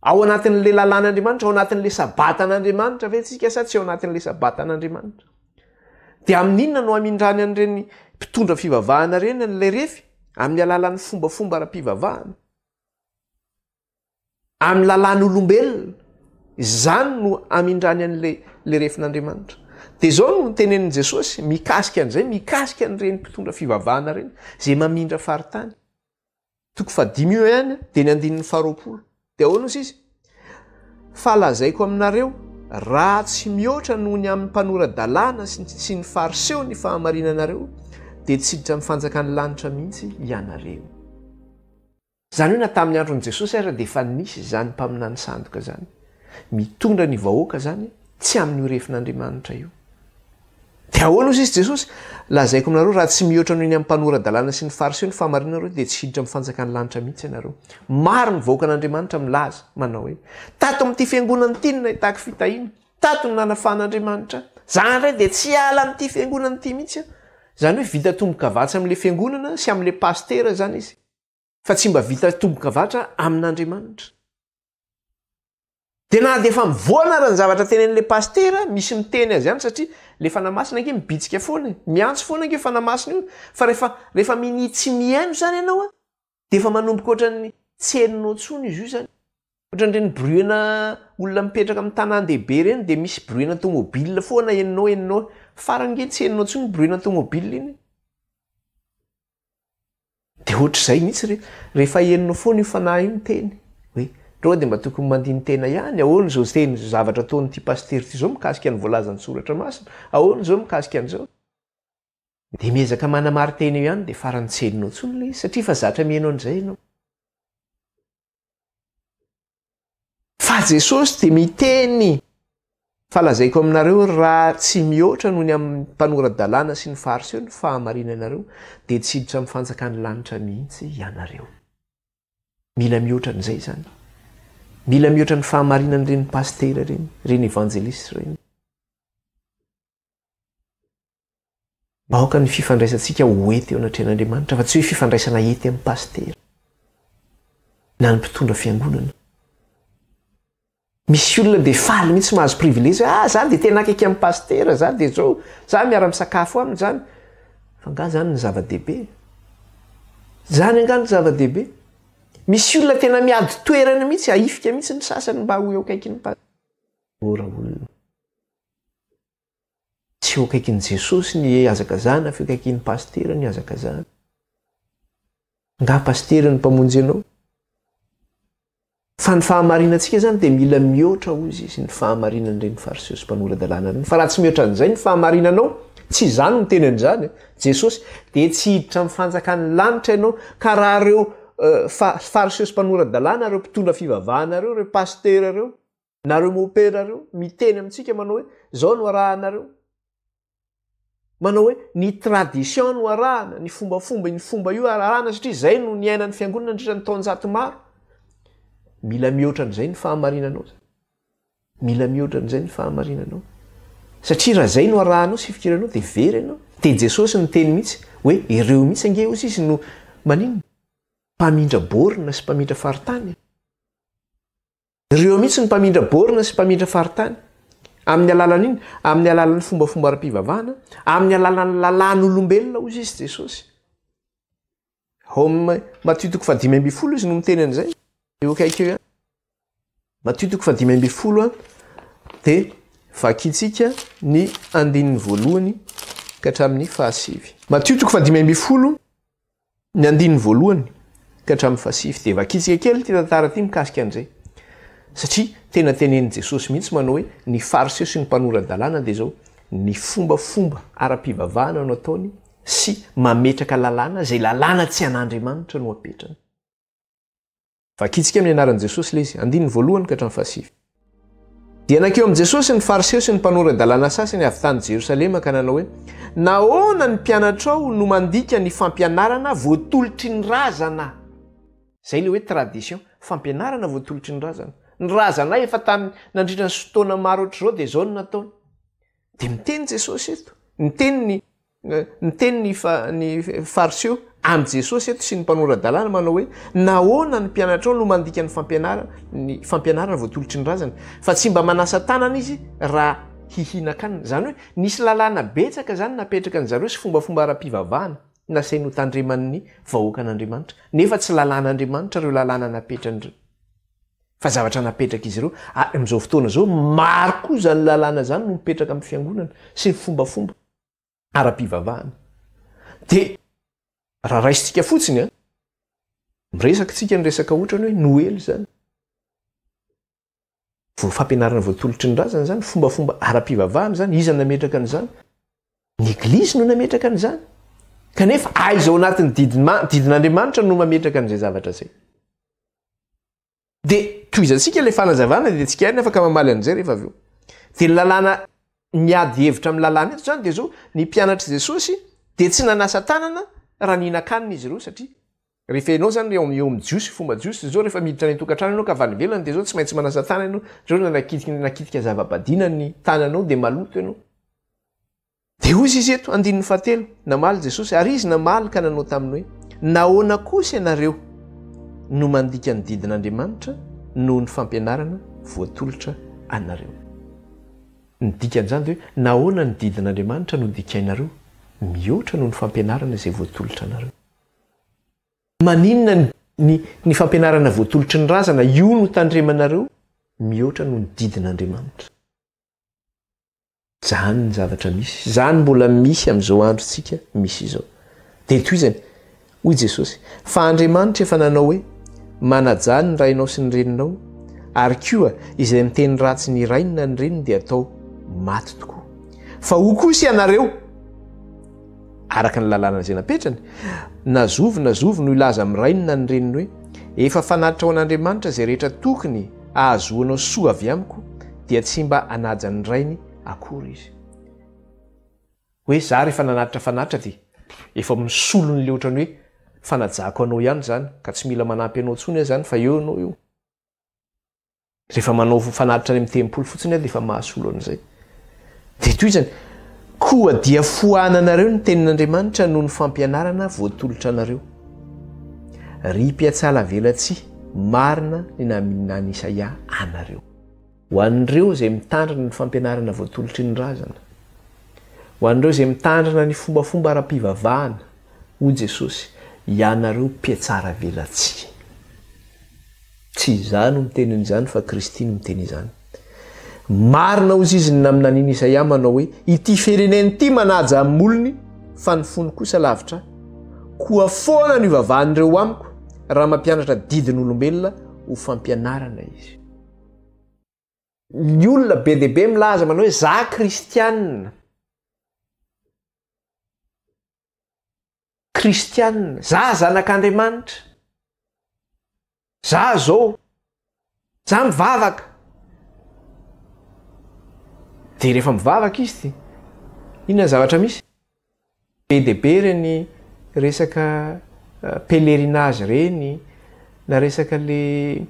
Ao anatin'ilay lalàn'Andriamanitra, ao anatin'ilay sabatan'Andriamanitra ve tsika sa tsy ao anatin'ilay sabatan'Andriamanitra? Dia amin'ny inona no hamindràny an'ireny mpitondra fivavahana ireny an'ilay refy? Amin'ny alalan'ny fombafomba ara-pivavahana. Amin'ny lalàn'olombelona. Izany no hamindràny an'ilay refin'Andriamanitra. Dia izao no notenenin'i Jesosy mikasika an'izay, mikasika an'ireny mpitondra fivavahana ireny, izay mamindra faritany. Toko fahadimy io ihany dia ny andininy faharoapolo. Dia ahoana hozy izy? Fa lazaiko aminareo, raha tsy mihoatra noho ny amin'ny mpanora-dalàna sy sy ny Fariseo ny fahamarinanareo, dia tsy hiditra amin'ny fanjakan'ny lanitra mihitsy ianareo. Izany hoe na tamin'ny andron'i Jesosy aza dia efa nisy izany mpaminany sandoka izany. Mitondra ny vahoaka izany tsy amin'io refin'Andriamanitra io. Dia ahoana hozy izy Jesosy? Lazaiko aminareo, raha tsy mihoatra noho ny amin'ny mpanora-dalàna sy ny Fariseo ny fahamarinanareo, dia tsy hiditra amin'ny fanjakan'ny lanitra mihitsy ianareo. Maro ny vahoakan'Andriamanitra milaza, manao hoe, Tato amin'ity fiangonana ity no nahitako fitahiana. Tato no nanafahan'Andriamanitra ahy. Za indray dia tsy hiala amin'ity fiangonana ity mihitsy aho. Izany hoe vita tombo-kavatsy amin'ilay fiangonana sy amin'ilay pasitera izany izy. fa tsy mba vita tombokavatra amin'Andriamanitra. Dia na dia efa mivoana ara ny zavatra tenenin'ilay pasitera, misy miteny azy ihany satria ilay fanahy masina ange mibitsika foana e. Miantso foana ange io fanahy masina io. Fa rehefa, rehefa minia tsy mihaino izany ianao an, dia efa manomboka ohatran'ny tsy henonao intsony izy io izany. Ohatran'ireny bruit-na olona mipetraka amin'ny tanàn-dehibe ireny dia misy bruit-na tômôbila foana henonao, henonao. Farany ange tsy henonao intsony bruit-na tômôbila iny. Dia ohatr'izay mihitsy re, rehefa henonao foana io fanahy io miteny hoe, ry roa dia mba tokony mandini-tena ihany, ahoana izao teny izao zavatra ataon'ity pasitera ity izao mikasika ny voalazan'ny soratra masina, ahoana izao mikasika an'izao? Dia miezaka manamari-tena eo ihany dia farany tsy henonao intsony ilay izy satria efa zatra miheno an'izay ianao. Fa Jesosy dia miteny fa lazaiko aminareo raha tsy mihoatra noho ny amin'ny mpanora-dalàna sy ny fariseo ny fahamarinanareo dia tsy hiditra amin'ny fanjakan'ny lanitra mihitsy ianareo. Mila mihoatra an'izay izany. Mila mihoatra ny fahamarinan'ireny pasitera ireny, ireny evanjelistra ireny. Aoka ny fifandraisantsika ho hety eo anatrehan'Andriamanitra fa tsy hoe fifandraisana hety amin'ny pasitera na ny mpitondra fiangonana. Misy olona dia faly mihitsy mahazo privilege, ah za dia tena akaiky amin'ny pasitera, za dia zao, za miara-misakafo aminy zany. Fa nga zany ny zava-dehibe? Zany nga ny zava-dehibe? Misy olona tena miady toerana mihitsy, ahifika mihitsy ny sasany mba ho eo akaikin'ny pasitera. Mora olona. Tsy eo akaikin'i Jesosy ny hazakazahana fa eo akaikin'ny pasitera ny hazakazahana. Nga pasitera ny mpamonjy anao? Fa ny fahamarinantsika zany dia mila mihoatra hoy izy ny fahamarinan'ireny fariseo sy mpanora-dalàna ireny. Fa raha tsy mihoatra an'izay ny fahamarinanao, tsy izany no teny an'izany Jesosy, dia tsy hiditra amin'ny fanjakan'ny lanitra ianao. Ka raha ireo fariseo sy mpanora-dalàna, ireo mpitondra fivavahana ireo, ireo pasitera ireo, nareo mopera reo miteny amintsika manao hoe zao no arahanareo manao hoe ny tradition no arahana ny fombafomba iny fomba io arahana satria zay no niainan'ny fiangonana andritra ny taonjato maro mila mihoatra an'izay ny fahamarinanao zany mila mihoatra an'izay ny fahamarinanao satria raha zay no arahanao sy fikiranao de very ianao de jesosy ny teny mihitsy hoe ireo mihitsy ange ozy izy no maninona mpamindra borina sy mpamindra faritany Ireo mihitsy ny mpamindra borne sy mpamindra faritany. Amin'ny alalan'in? Amin'ny alalan'ny fombafomba ara-pivavahana, amin'ny alalan'ny lalàn'olombelona, hoy izy Jesosy. Ao amin'ny Matio toko fahadimy ambin'ny folo izy no miteny an'izay. Eo akaiky eo ihany. Matio toko fahadimy ambin'ny folo dia vakintsika ny andininy voalohany ka hatramin'ny fahasivy. Matio toko fahadimy ambin'ny folo Ny andininy voalohany ka hatramin'ny fahasivy dia vakitsika kely ity tantara ity mikasika an'izay. Satria tena tenenin'i Jesosy mihitsy manao hoe ny Fariseo sy ny mpanora-dalàna dia izao ny fombafomba ara-pivavahana no ataony sy mametraka lalàna izay lalàna tsy an'Andriamanitra no apetrany. Vakintsika amin'ny anaran'i Jesosy ilay izy, andininy voalohany ka hatramin'ny fahasivy. Dia nankeo amin'i Jesosy ny Fariseo sy ny mpanora-dalàna sasany avy tany Jerosalema ka nanao hoe, Nahoana ny mpianatrao no mandika ny fampianarana voatolotry ny razana? Izay ilay hoe tradition, fampianarana voatolotry ny razana. Ny razanay efa tany nandritra ny fotoana maro hoatr'izao dia izao no nataony. Dia miteny Jesosy eto, miteny ny Niteny ny ny Fariseo amin'i Jesosy eto sy ny mpanora-dalàna manao hoe, Nahoana ny mpianatrao no mandika ny fampianarana ny fampianarana voatolotry ny razana? Fa tsy mba manasa tanana izy raha hihinan-kanina. Izany hoe nisy lalàna betsaka izany napetraka an-dry zareo sy fombafomba ara-pivavahana nasainy hotandreman'ny vahoakan'Andriamanitra. Nefa tsy lalàn'Andriamanitra ireo lalàna napetrany fa zavatra napetrak'izy ireo. Ary amin'izao fotoana izao maro koa izany lalàna izany no mipetraka amin'ny fiangonana sy ny fombafomba. ara-pivavahana. Dia raha raisintsika fotsiny an, miresaka tsika ny resaka ohatrany hoe Noely zany. Vao fampianarana voatolotry ny razana zany, fombafomba ara-pivavahana zany, iza nametraka an'izany? Ny eglizy no nametraka an'izany. Kanefa aiza ao anatin'ny didin'Andriamanitra no mametraka an'izay zavatra zay? Dia tohizantsika ilay fanazavana dia tsy kiariny afaka mamaly an'izay rehefa avy eo. Dia ny lalàna miady hevitra amin'ny lalàna eto izany dia izao, ny mpianatr'i Jesosy dia tsy nanasa tanana raha nihinan-kanina izy ireo satria rehefa ianao izany eo eo amin'ny Jiosy, fomba Jiosy izao rehefa miditra any an-tokantrano ianao ka avy any ivelany dia izao tsy maintsy manasa tanana ianao, izao raha nakitika nakitika zava-badiana ny tananao dia maloto ianao. Dia hoy izy eto, andininy fahatelo, namaly Jesosy, ary izy namaly ka nanao taminy hoe, Nahoana kosa ianareo no mandika ny didin'Andriamanitra noho ny fampianarana voatolotra anareo? Ny dikan'izany dia hoe, nahoana ny didin'Andriamanitra no dikainareo mihoatra noho ny fampianarana izay voatolotra anareo? Maninona ny ny fampianarana voatolotry ny razana io no tandremanareo mihoatra noho ny didin'Andriamanitra? Zany ny zavatra misy. Zany mbola misy amin'izao androntsika misy izao. Dia tohizany, hoy Jesosy, fa Andriamanitra efa nanao hoe, manajà ny rainao sy ny reninao, ary koa izay miteny ratsy ny rainy na ny reniny dia atao maty tokoa. Fa hoy kosa ianareo, araka ny lalàna izay napetrany, na zovy na zovy no hilaza amin'ny rainy na ny reniny hoe, Efa fanatitra ho an'Andriamanitra izay rehetra tokony hahazoanao soa avy amiko, dia tsy mba hanaja ny rainy akory izy. Hoe za rehefa nanatitra fanatitra dia efa misolo ny le ohatran'ny hoe fanajako anao ihany izany ka tsy mila manampy anao intsony aho izany fa eo ianao eo. Rehefa manao fanatitra any amin'ny tempoly fotsiny aho dia efa mahasolo an'izay. Dia toy izany, koa dia foananareo ny tenin'Andriamanitra noho ny fampianarana voatolotra anareo. Ry mpiatsalavelatsihy, marina ny naminan'i Isaia anareo. Ho an'ireo izay mitandrina ny fampianarana voatolotry ny razana, ho an'ireo izay mitandrina ny fombafomba ara-pivavahana, hoy Jesosy, ianareo mpiatsaravelatsihy. Tsy izaho no miteny an'izany fa Kristy no miteny izany. Marina hozy izy ny naminanian'i Isaia manao hoe, Ity firenena ity manaja amin'ny molony fa ny fony kosa lavitra ahy. Koa foana no ivavahan'ireo amiko raha mampianatra didin'olombelona ho fampianarana izy. ny olona be dia be milaza manao hoe za kristianina kristianina za zanak'andriamanitra za zao za mivavaka de rehefa mivavaka izy ty inona ny zavatra misy Be dia be ireny resaka pèlerinage ireny, na resaka ilay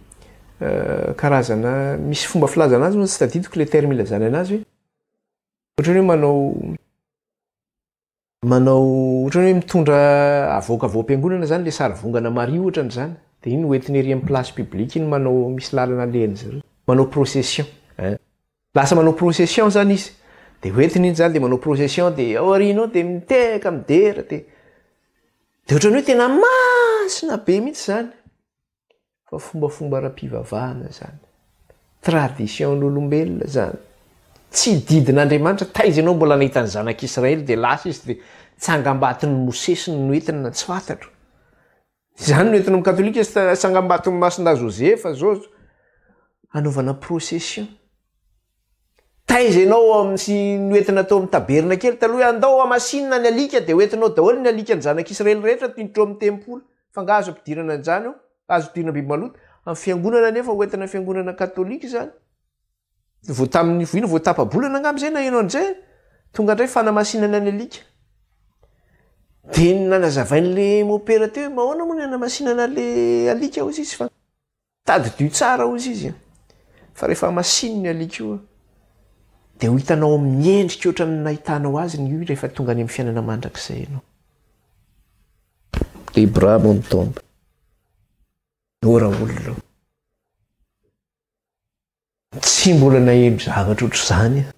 karazana, misy fomba filazana azy moa tsy tadidiko ilay terme ilazana anazy hoe, ohatran'ny hoe manao, manao ohatran'ny hoe mitondra avoaka avy ao am-piangonana izany ilay sarivongana Maria ohatra an'izany, dia iny hoentina ery amin'ny place publique iny manao, misy lalana alehan'izy ireo, manao procession, ein. Lasa manao procession zany izy, dia hoentiny iny zany dia manao procession dia ao aoriany ao dia mitehaka midera dia dia ohatran'ny hoe tena masina be mihitsy zany fa fombafomba ara-pivavahana zany, tradition an'olombelona zany, tsy didin'Andriamanitra, taiza ianao mbola nahita ny zanak'Israely dia lasa izy dia tsangambaton'i Mosesy no noentina, tsy fantatro, Izany no entin'ny katolika sy tsangambaton'i Masina Joseph zao hanaovana procession. Taiza ianao amin'ny sy ny hoentina tao amin'ny tabernakely taloha hoe andao hamasinina ny alika dia hoentinao daholo ny alikan'ny zanak'Israely rehetra tindrotro amin'ny tempoly. Fa nga azo ampidirana an'izany ao? Azo ampidirina biby maloto? Amin'ny fiangonana anefa hoentina fiangonana katolika izany. Vao tamin'ny ino vao tapa-bolana angamba izay naheno an'izay, tonga indray fanamasinana ny alika. Dia nanazavain'ilay mopera teo hoe mahoana moa ny hanamasinana ilay alika hoy izy fa tadidio tsara hoy izy an. Fa rehefa masino ny alika io dia ho hitanao amin'ny endrika ohatran'ny nahitanao azy ny io rehefa tonga any amin'ny fiainana mandrakizay ianao. Debra Montomba. Ora olona. Tsy mbola naheno zavatra ohatr'izany aho.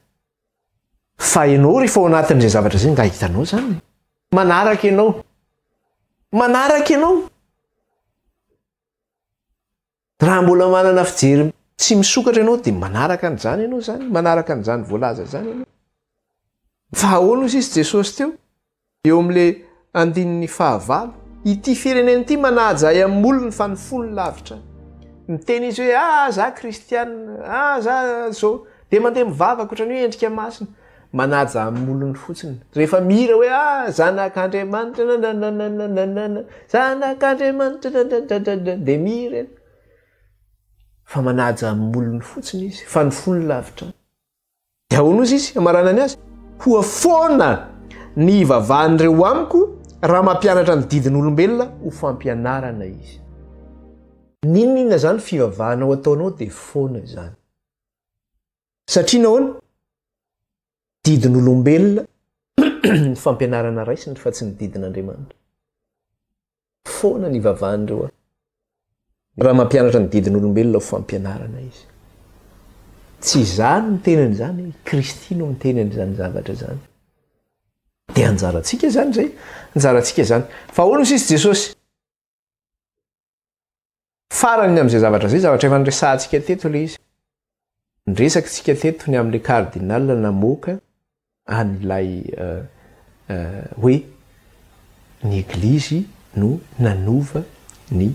Fa ianao rehefa ao anatin'izay zavatra izay nga hitanao izany. E. Manaraka ianao. Manaraka ianao. Raha mbola manana fijery tsy misokatra ianao dia manaraka an'izany ianao izany, manaraka an'izany voalaza izany ianao. Fa ahoana hoy sisy Jesosy teo? Eo amin'ilay andininy fahavalo. Ity firenena ity manaja ahy amin'ny molony fa ny fony lavitra ahy. Miteny izy hoe ah za kristianina, ah za zao. Dia mandeha mivavaka ohatran'ny hoe endrika masina. Manaja amin'ny molony fotsiny. Rehefa mihira hoe ah zanak'Andriamanitra nananananananana, zanak'Andriamanitra dadadadada dia mihira ianao. Fa manaja amin'ny molony fotsiny izy fa ny fony lavitra ahy. Dia ahoana ozy izy hamaranany azy? Koa foana ny hivavahan'ireo amiko raha mampianatra ny didin'olombelona ho fampianarana izy. N'inon'inona izany fivavahanao ataonao dia foana izany. Satria nahoana? Didin'olombelona ny fampianarana raisiny fa tsy ny didin'Andriamanitra. Foana ny ivavan'ireo an. Raha mampianatra ny didin'olombelona ho fampianarana izy. Tsy izaho no miteny an'izany, i Kristy no miteny an'izany zavatra izany. Dia anjarantsika izany izay, anjarantsika izany. Fa ahoana hoy sisa Jesosy? Farany amin'izay zavatra izay, zavatra efa niresahantsika teto ilay izy. Niresaka isika teto ny amin'ilay cardinal namoaka an'ilay hoe ny eglizy no nanova ny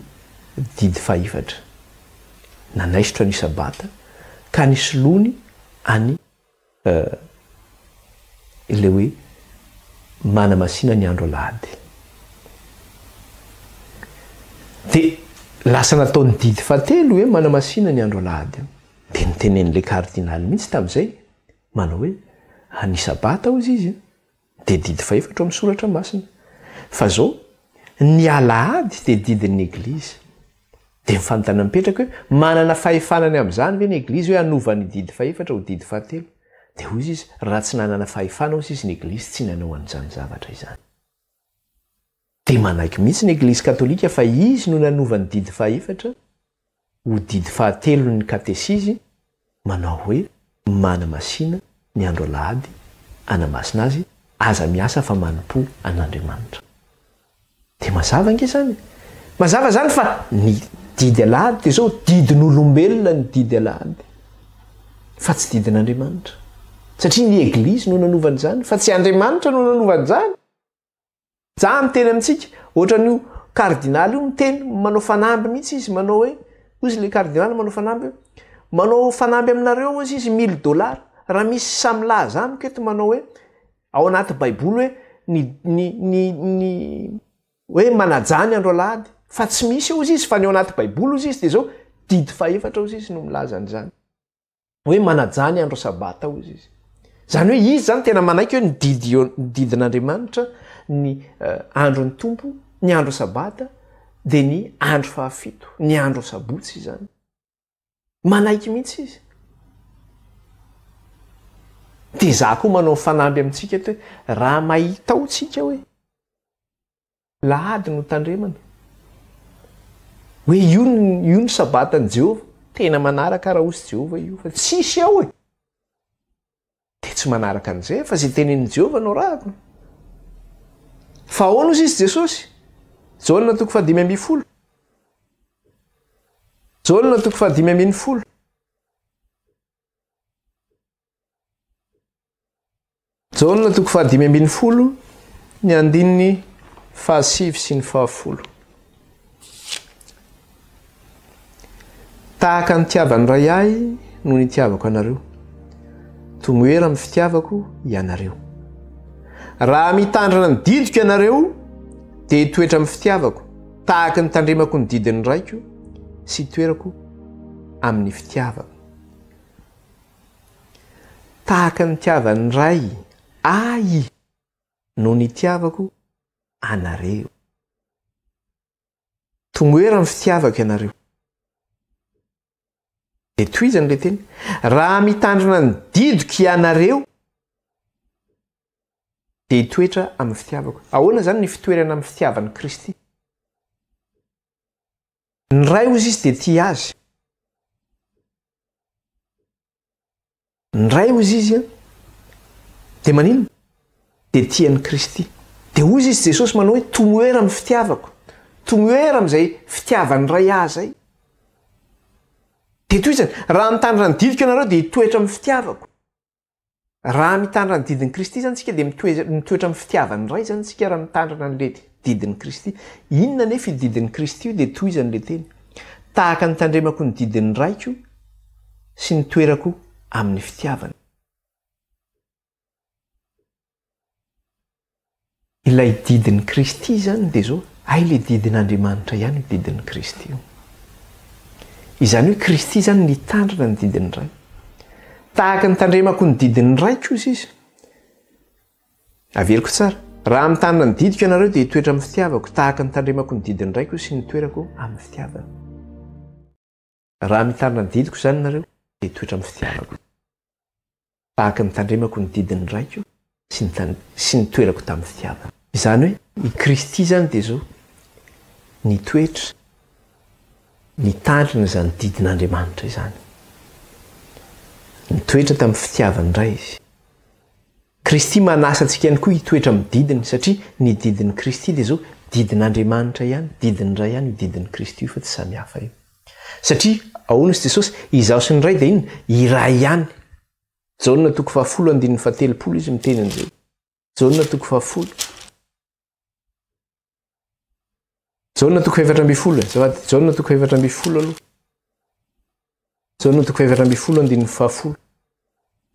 didy fahefatra. Nanaisotra ny sabata ka nisoloany any Eh, ilay hoe manamasina ny andro alahady dia lasa natao ny didy fahatelo hoe manamasina ny andro alahady dia nitenen'ilay kardinaly mihitsy tamin'izay manao hoe, ah, ny sabata hozy izy, Dia didy fahefatra ao amin'ny soratra masina. Fa zao, ny alahady dia didin'ny eglizy. Dia ny fanontaniana mipetraka hoe, manana fahefana ny amin'izany ve ny eglizy hoe hanova ny didy fahefatra ho didy fahatelo? Dia hoy izy, raha tsy nanana fahefana hoy izy ny eglizy tsy nanao an'izany zavatra izany. Dia manaiky mihitsy ny Eglizy Katolika fa izy no nanova ny didy fahaefatra ho didy fahatelon'ny Katesizy, manao hoe, Manamasina ny andro Alahady, anamasina azy, aza miasa fa manompo an'Andriamanitra. Dia mazava ange izany. Mazava izany fa ny didy Alahady dia izao, didin'olombelona ny didy Alahady, fa tsy didin'Andriamanitra. Satria ny Eglizy no nanova an'izany, fa tsy Andriamanitra no nanova an'izany. Zah miteny amintsika, ohatran'io Kardinaly io miteny, manao fanamby mihitsy izy, manao hoe, hoy izy le Kardinaly manao fanamby hoe, manao fanamby aminareo hozy izy mille dollars, raha misy samy milaza amiko eto manao hoe, ao anaty baiboly hoe, ny, ny, ny, ny, hoe manajà ny andro alahady, fa tsy misy eo hozy izy, fa ny ao anaty baiboly hozy izy dia zao, didy fahefatra hozy izy no milaza an'izany. hoe manajà ny andro sabata hozy izy. Izany hoe izy izany tena manaiky hoe nodidin'Andriamanitra ny andron'ny tompo, ny andro sabata dia ny andro fahafito, ny andro sabotsy izany. Manaiky mihitsy izy. Dia za koa manao fanamby amintsika eto hoe raha mahita ao tsika hoe Lahady no tandremana hoe io io ny sabatan'i Jehovah. Tena manaraka Araosy Jehovah io fa tsisy ao e! Dia tsy manaraka an'izay fa izay tenenin'i Jehovah no arahako. Fa ahoana hozy izy Jesosy? Jaona toko fahadimy ambin'ny folo. Jaona toko fahadimy ambin'ny folo. Jaona toko fahadimy ambin'ny folo ny andininy fahasivy sy ny fahafolo. Tahaka ny tiavan'ny ray ahy no nitiavako anareo. Tomoera amin'ny fitiavako ianareo. Raha mitandrina ny didiko ianareo dia hitoetra amin'ny fitiavako tahaka ny tandremako ny didin'ny raiko sy toerako amin'ny fitiavako. Tahaka ny nitiavan'ny Ray Ahy no nitiavako anareo. Tomoera ny fitiavako ianareo. Dia tohizany ilay teny, Raha mitandrina ny didiko ianareo, dia hitoetra amin'ny fitiavako. Ahoana izany ny fitoerana amin'ny fitiavan'i Kristy? Ny Ray ozy izy dia tia azy. Ny Ray ozy izy an, dia maninona? Dia tia an'i Kristy. Dia ozy izy Jesosy manao hoe tomoera amin'ny fitiavako. Tomoera amin'izay fitiavan'ny Ray ahy izay. Dia toy izany, raha mitandrina ny didiko ianareo dia hitoetra amin'ny fitiavako. Raha mitandrina ny didin'i Kristy izany isika dia mitoetra mitoetra amin'ny fitiavan'ny Ray izany isika raha mitandrina an'ilay didin'i Kristy. Inona anefa io didin'i Kristy io dia tohizany ilay teny, Tahaka ny tandremako ny didin'ny Raiko sy ny toerako amin'ny fitiavany. Ilay didin'i Kristy izany dia izao, hay le didin'Andriamanitra ihany io didin'i Kristy io. Izany hoe Kristy izany nitandrina ny didin'ny Ray. Tahaka ny tandremako ny didin'ny Raiko kosa izy. Averiko tsara. Raha mitandrina ny didiko ianareo dia hitoetra amin'ny fitiavako, tahaka ny tandremako ny didin'ny Raiko sy ny toerako amin'ny fitiavany. Raha mitana ny didiko izany nareo dia toetra amin'ny fitiavako izany. Tahaka ny tandremako ny didin'ny Raiko sy ny sy nitoerako tamin'ny fitiavana. Izany hoe i Kristy izany dia izao nitoetra nitandrina izany didin'Andriamanitra izany. Nitoetra tamin'ny fitiavan'ny Ray Izy. Kristy manasa antsika ihany koa hitoetra amin'ny didiny, satria ny didin'i Kristy dia izao, didin'Andriamanitra ihany, didin'ny Ray ihany io didin'i Kristy io fa tsy samy hafa io. Satria, ahoana hoy Jesosy, izaho sy ny Ray dia inona? Iray ihany. Jaona toko fahafolo andininy fahatelopolo izy miteny an'izay. Jaona toko fahafolo. Jaona toko efatra ambin'ny folo e. Zavady, Jaona toko efatra ambin'ny folo aloha. Jaona toko efatra ambin'ny folo andininy fahafolo.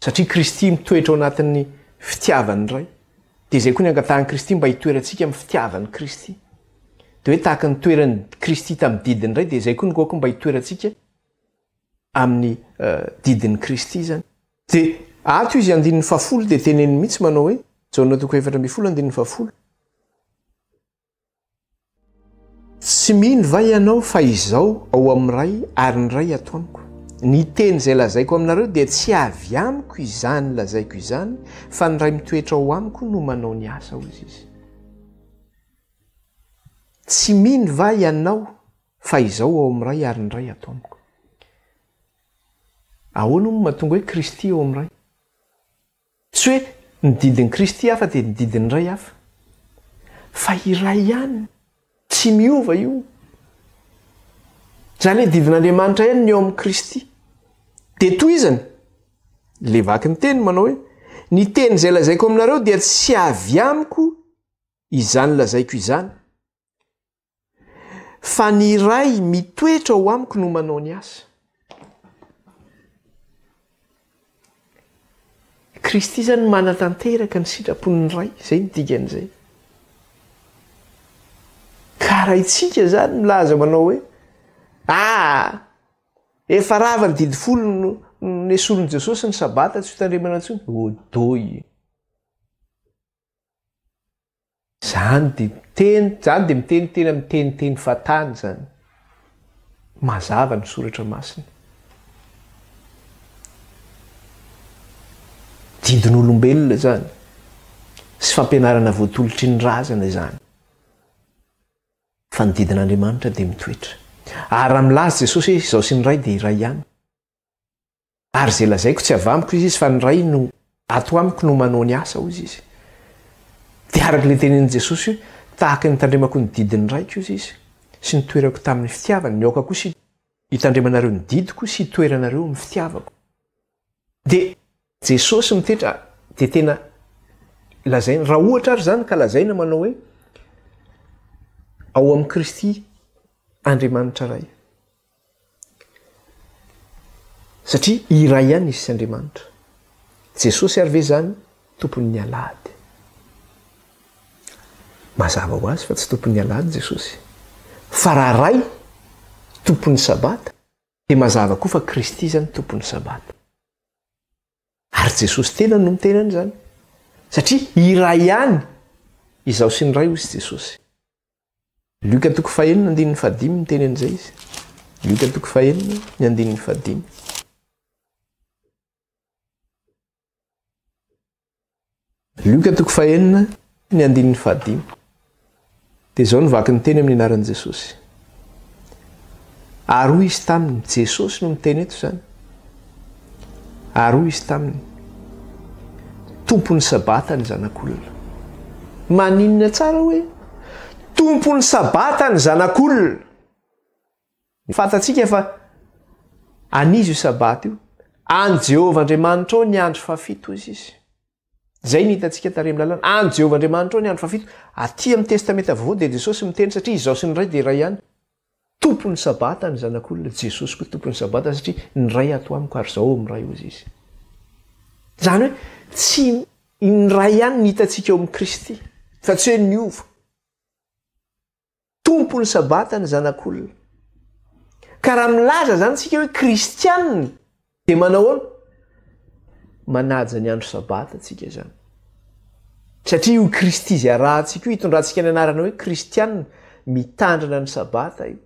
Satria Kristy mitoetra ao anatin'ny fitiavan'ny Ray. Dia izay koa ny angatahan'i Kristy mba hitoerantsika amin'ny fitiavan'i Kristy. Dia hoe tahaka ny toeran'i Kristy tamin'ny didin'ny Ray dia izay koa ny goako mba hitoerantsika amin'ny uh, didin'i Kristy izany. Dia ato izy andininy fahafolo dia teneniny mihitsy manao hoe, Jaona toko efatra ambin'ny folo andininy fahafolo, Tsy mino va ianao fa Izaho ao amin'ny Ray ary ny Ray ato amiko? Ny teny izay lazaiko aminareo dia tsy avy amiko izany lazaiko izany fa ny Ray mitoetra ao amiko no manao ny asa, hoy Izy. Tsy mino va ianao fa Izaho ao amin'ny Ray ary ny Ray ato amiko? Ahoana hono no mahatonga hoe Kristy eo amin'ny Ray? Tsy hoe ny didin'i Kristy hafa dia ny didin'ny Ray hafa. Fa iray ihany, tsy miova io. Izany hoe didin'Andriamanitra ihany ny eo amin'i Kristy. Dia tohizany, ilay vaky ny teny manao hoe, Ny teny izay lazaiko aminareo dia tsy avy amiko izany lazaiko izany. fa ny Ray mitoetra ao amiko no manao ny asa. Kristy izany manatanteraka ny sitrapon'ny Ray, izay ny dikan'izay. Ka raha itsika izany milaza manao hoe, ah, efa rava ny didy folo no nesorin'i Jesosy ny sabata tsy ho tandremana intsony, odoy. Zany dia miteny, zany dia miteny tena miteniteny fatany zany. Mazava ny soratra masina. Didin'olombelona zany. Sy fampianarana voatolotry ny razana izany. Fa ny didin'Andriamanitra dia mitoetra. Ary raha milaza Jesosy hoe izaho sy ny Ray dia iray ihany. Ary izay lazaiko tsy avy amiko, hoy izy, fa ny Ray no ato amiko no manao ny asa, hoy izy. Dia araka ilay tenenin'i Jesosy hoe, Tahaka ny hitandremako ny didin'ny Raiko, hoy izy, sy nitoerako tamin'ny fitiavany, ny aoka kosa hitandremanareo ny didiko sy hitoeranareo amin'ny fitiavako. Dia. Jesosy mitetra, dia tena lazaina, raha ohatra ary izany ka lazaina manao hoe, Ao amin'i Kristy Andriamanitra Ray. Satria iray ihany izy sy Andriamanitra. Jesosy ary ve izany tompon'ny alahady? Mazava ho azy fa tsy tompon'ny alahady Jesosy. Fa raha Ray, tompon'ny sabata, dia mazava koa fa Kristy izany tompon'ny sabata. Ary Jesosy tenany no miteny an'izany. Satria iray ihany Izaho sy ny Ray, hoy Jesosy. Lioka toko fahenina andininy fahadimy miteny an'izay izy. Lioka toko fahenina ny andininy fahadimy. Lioka toko fahenina, ny andininy fahadimy. Dia izao no vaky ny teny amin'ny anaran'i Jesosy. Ary hoy izy taminy, Jesosy no miteny eto izany. Ary hoy izy taminy, Tompon'ny sabata ny zanak'olona. Maninona tsara hoe, Tompon'ny sabata ny zanak'olona. Fantatsika fa an'iza io Sabata io. An'i Jehovah Andriamanitrao ny andro fahafito, hoy izy. Izay no hitantsika tarehy amin'ny lalàna. An'i Jehovah Andriamanitrao ny andro fahafito. Atỳ amin'ny Testamenta Vaovao dia Jesosy miteny, satria Izaho sy ny Ray dia iray ihany. Tompon'ny Sabata ny Zanak'olona. Jesosy koa Tompon'ny Sabata, satria ny Ray ato amiko ary Izaho ao amin'ny Ray, hoy izy. Izany hoe tsy ny Ray ihany no hitantsika ao amin'i Kristy, fa tsy hoe niova. Tompon'ny Sabata ny Zanak'olona. Ka raha milaza izany isika hoe kristiana dia manao ahoana? Manaja ny andro Sabata isika izany. Satria io Kristy izay arahantsika io, hitondrantsika ny anarana hoe kristiana, mitandrina ny Sabata io.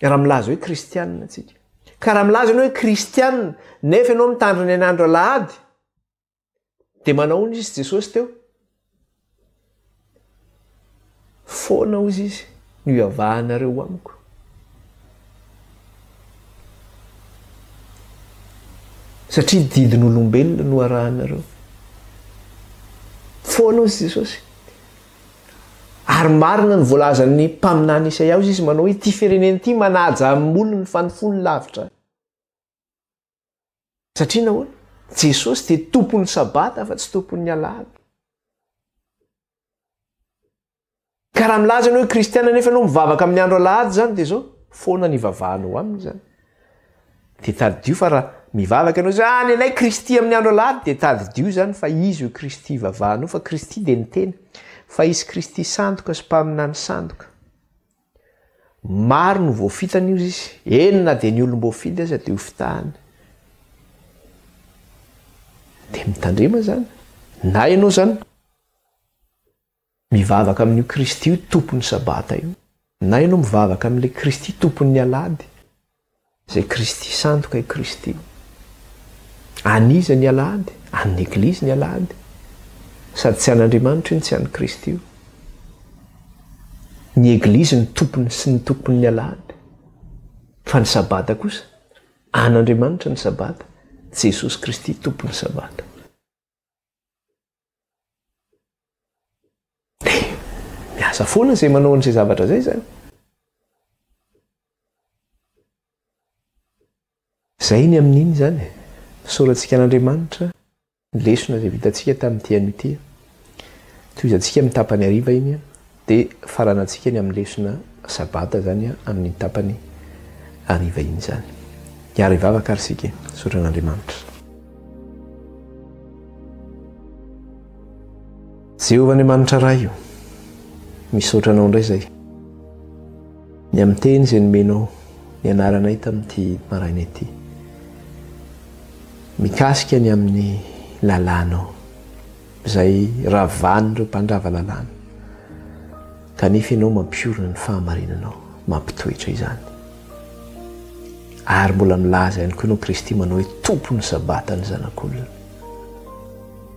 Raha milaza hoe kristiana isika. Ka raha milaza ianao hoe kristiana, nefa ianao mitandrina ny an'andro alahady, Dia manahoana izy Jesosy teo? Foana hozy izy no iavahanareo amiko. Satria didin'olombelona no arahanareo. Foana hozy Jesosy. Ary marina ny voalazan'ny mpaminany Isaia hozy izy manao hoe ity firenena ity manaja amin'ny olony fa ny fony lavitra. Satria nahoana? Jesosy dia tompon'ny sabata fa tsy tompon'ny alahady. Ka raha milaza ianao hoe kristiana nefa ianao mivavaka amin'ny andro alahady izany dia izao foana ny ivavahanao aminy izany. Dia tadidio fa raha mivavaka ianao izay ah, ny anay Kristy amin'ny andro alahady dia tadidio izany fa izy io Kristy ivavahanao fa Kristy dia ny tena fa izy Kristy sandoka sy mpaminany sandoka. Maro no voafitany ozy izy, eny na dia ny olom-boafidy aza dia hofitahany. Dia mitandrema izany. Na ianao izany mivavaka amin'io Kristy io tompon'ny sabata io, na ianao mivavaka amin'ilay Kristy tompon'ny alahady, Izay Kristy sandoka i Kristy. An'iza ny Alahady? An'ny Eglizy ny Alahady. Sady tsy an'Andriamanitra io no tsy an'i Kristy io. Ny Eglizy ny tompony sy ny tompon'ny Alahady. Fa ny Sabata kosa, an'Andriamanitra ny Sabata, Jesosy Kristy tompon'ny Sabata. Miasa foana izay manao an'izay zavatra izay izany. Izay ny amin'iny izany. Fisaorantsika an'Andriamanitra ny lesona izay vitantsika tamin'ity anio ity. Tohizantsika amin'ny tapany hariva iny. Dia farana antsika ny amin'ny lesona sabata izany amin'ny tapany hariva iny izany. Hiaro hivavaka ary isika, hisaotra an'Andriamanitra. Jehovah Andriamanitra Ray o, misaotra Anao indray izay ny amin'ny teny izay nomenao nianaranay tamin'ity maraina ity. Mikasika ny amin'ny lalànao. izay ravan'ireo mpandrava lalàna, kanefa ianao mampiorina ny fahamarinanao, mampitoetra izany. Ary mbola milaza ihany koa ianao Kristy manao hoe tompon'ny sabata ny zanak'olona.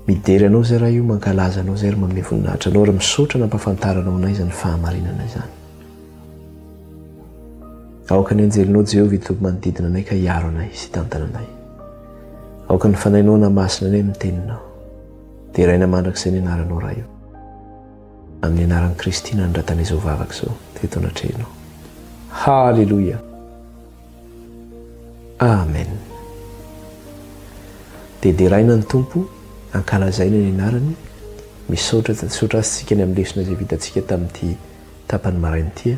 Midera anao izay raha io, mankalaza anao izay ary manome voninahitra anao ary misaotra nampahafantaranao anay izany fahamarinana izany. Aoka ny anjelinao Jehovah hitoby manodidina anay ka hiaro anay sy hitantana anay. Aoka ny fanainao na masina ny amin'ny teninao. Deraina mandrakizay ny anaranao Ray o. Amin'ny anaran'i Kristy nanondratana izao vavaka izao teto anatrehanao. Haleloia. Amen. Dia deraina ny Tompo, ankalazaina ny anarany. Misaotra, misaotra azy tsika ny amin'ny lesona izay vitantsika tamin'ity tapany maraina ity.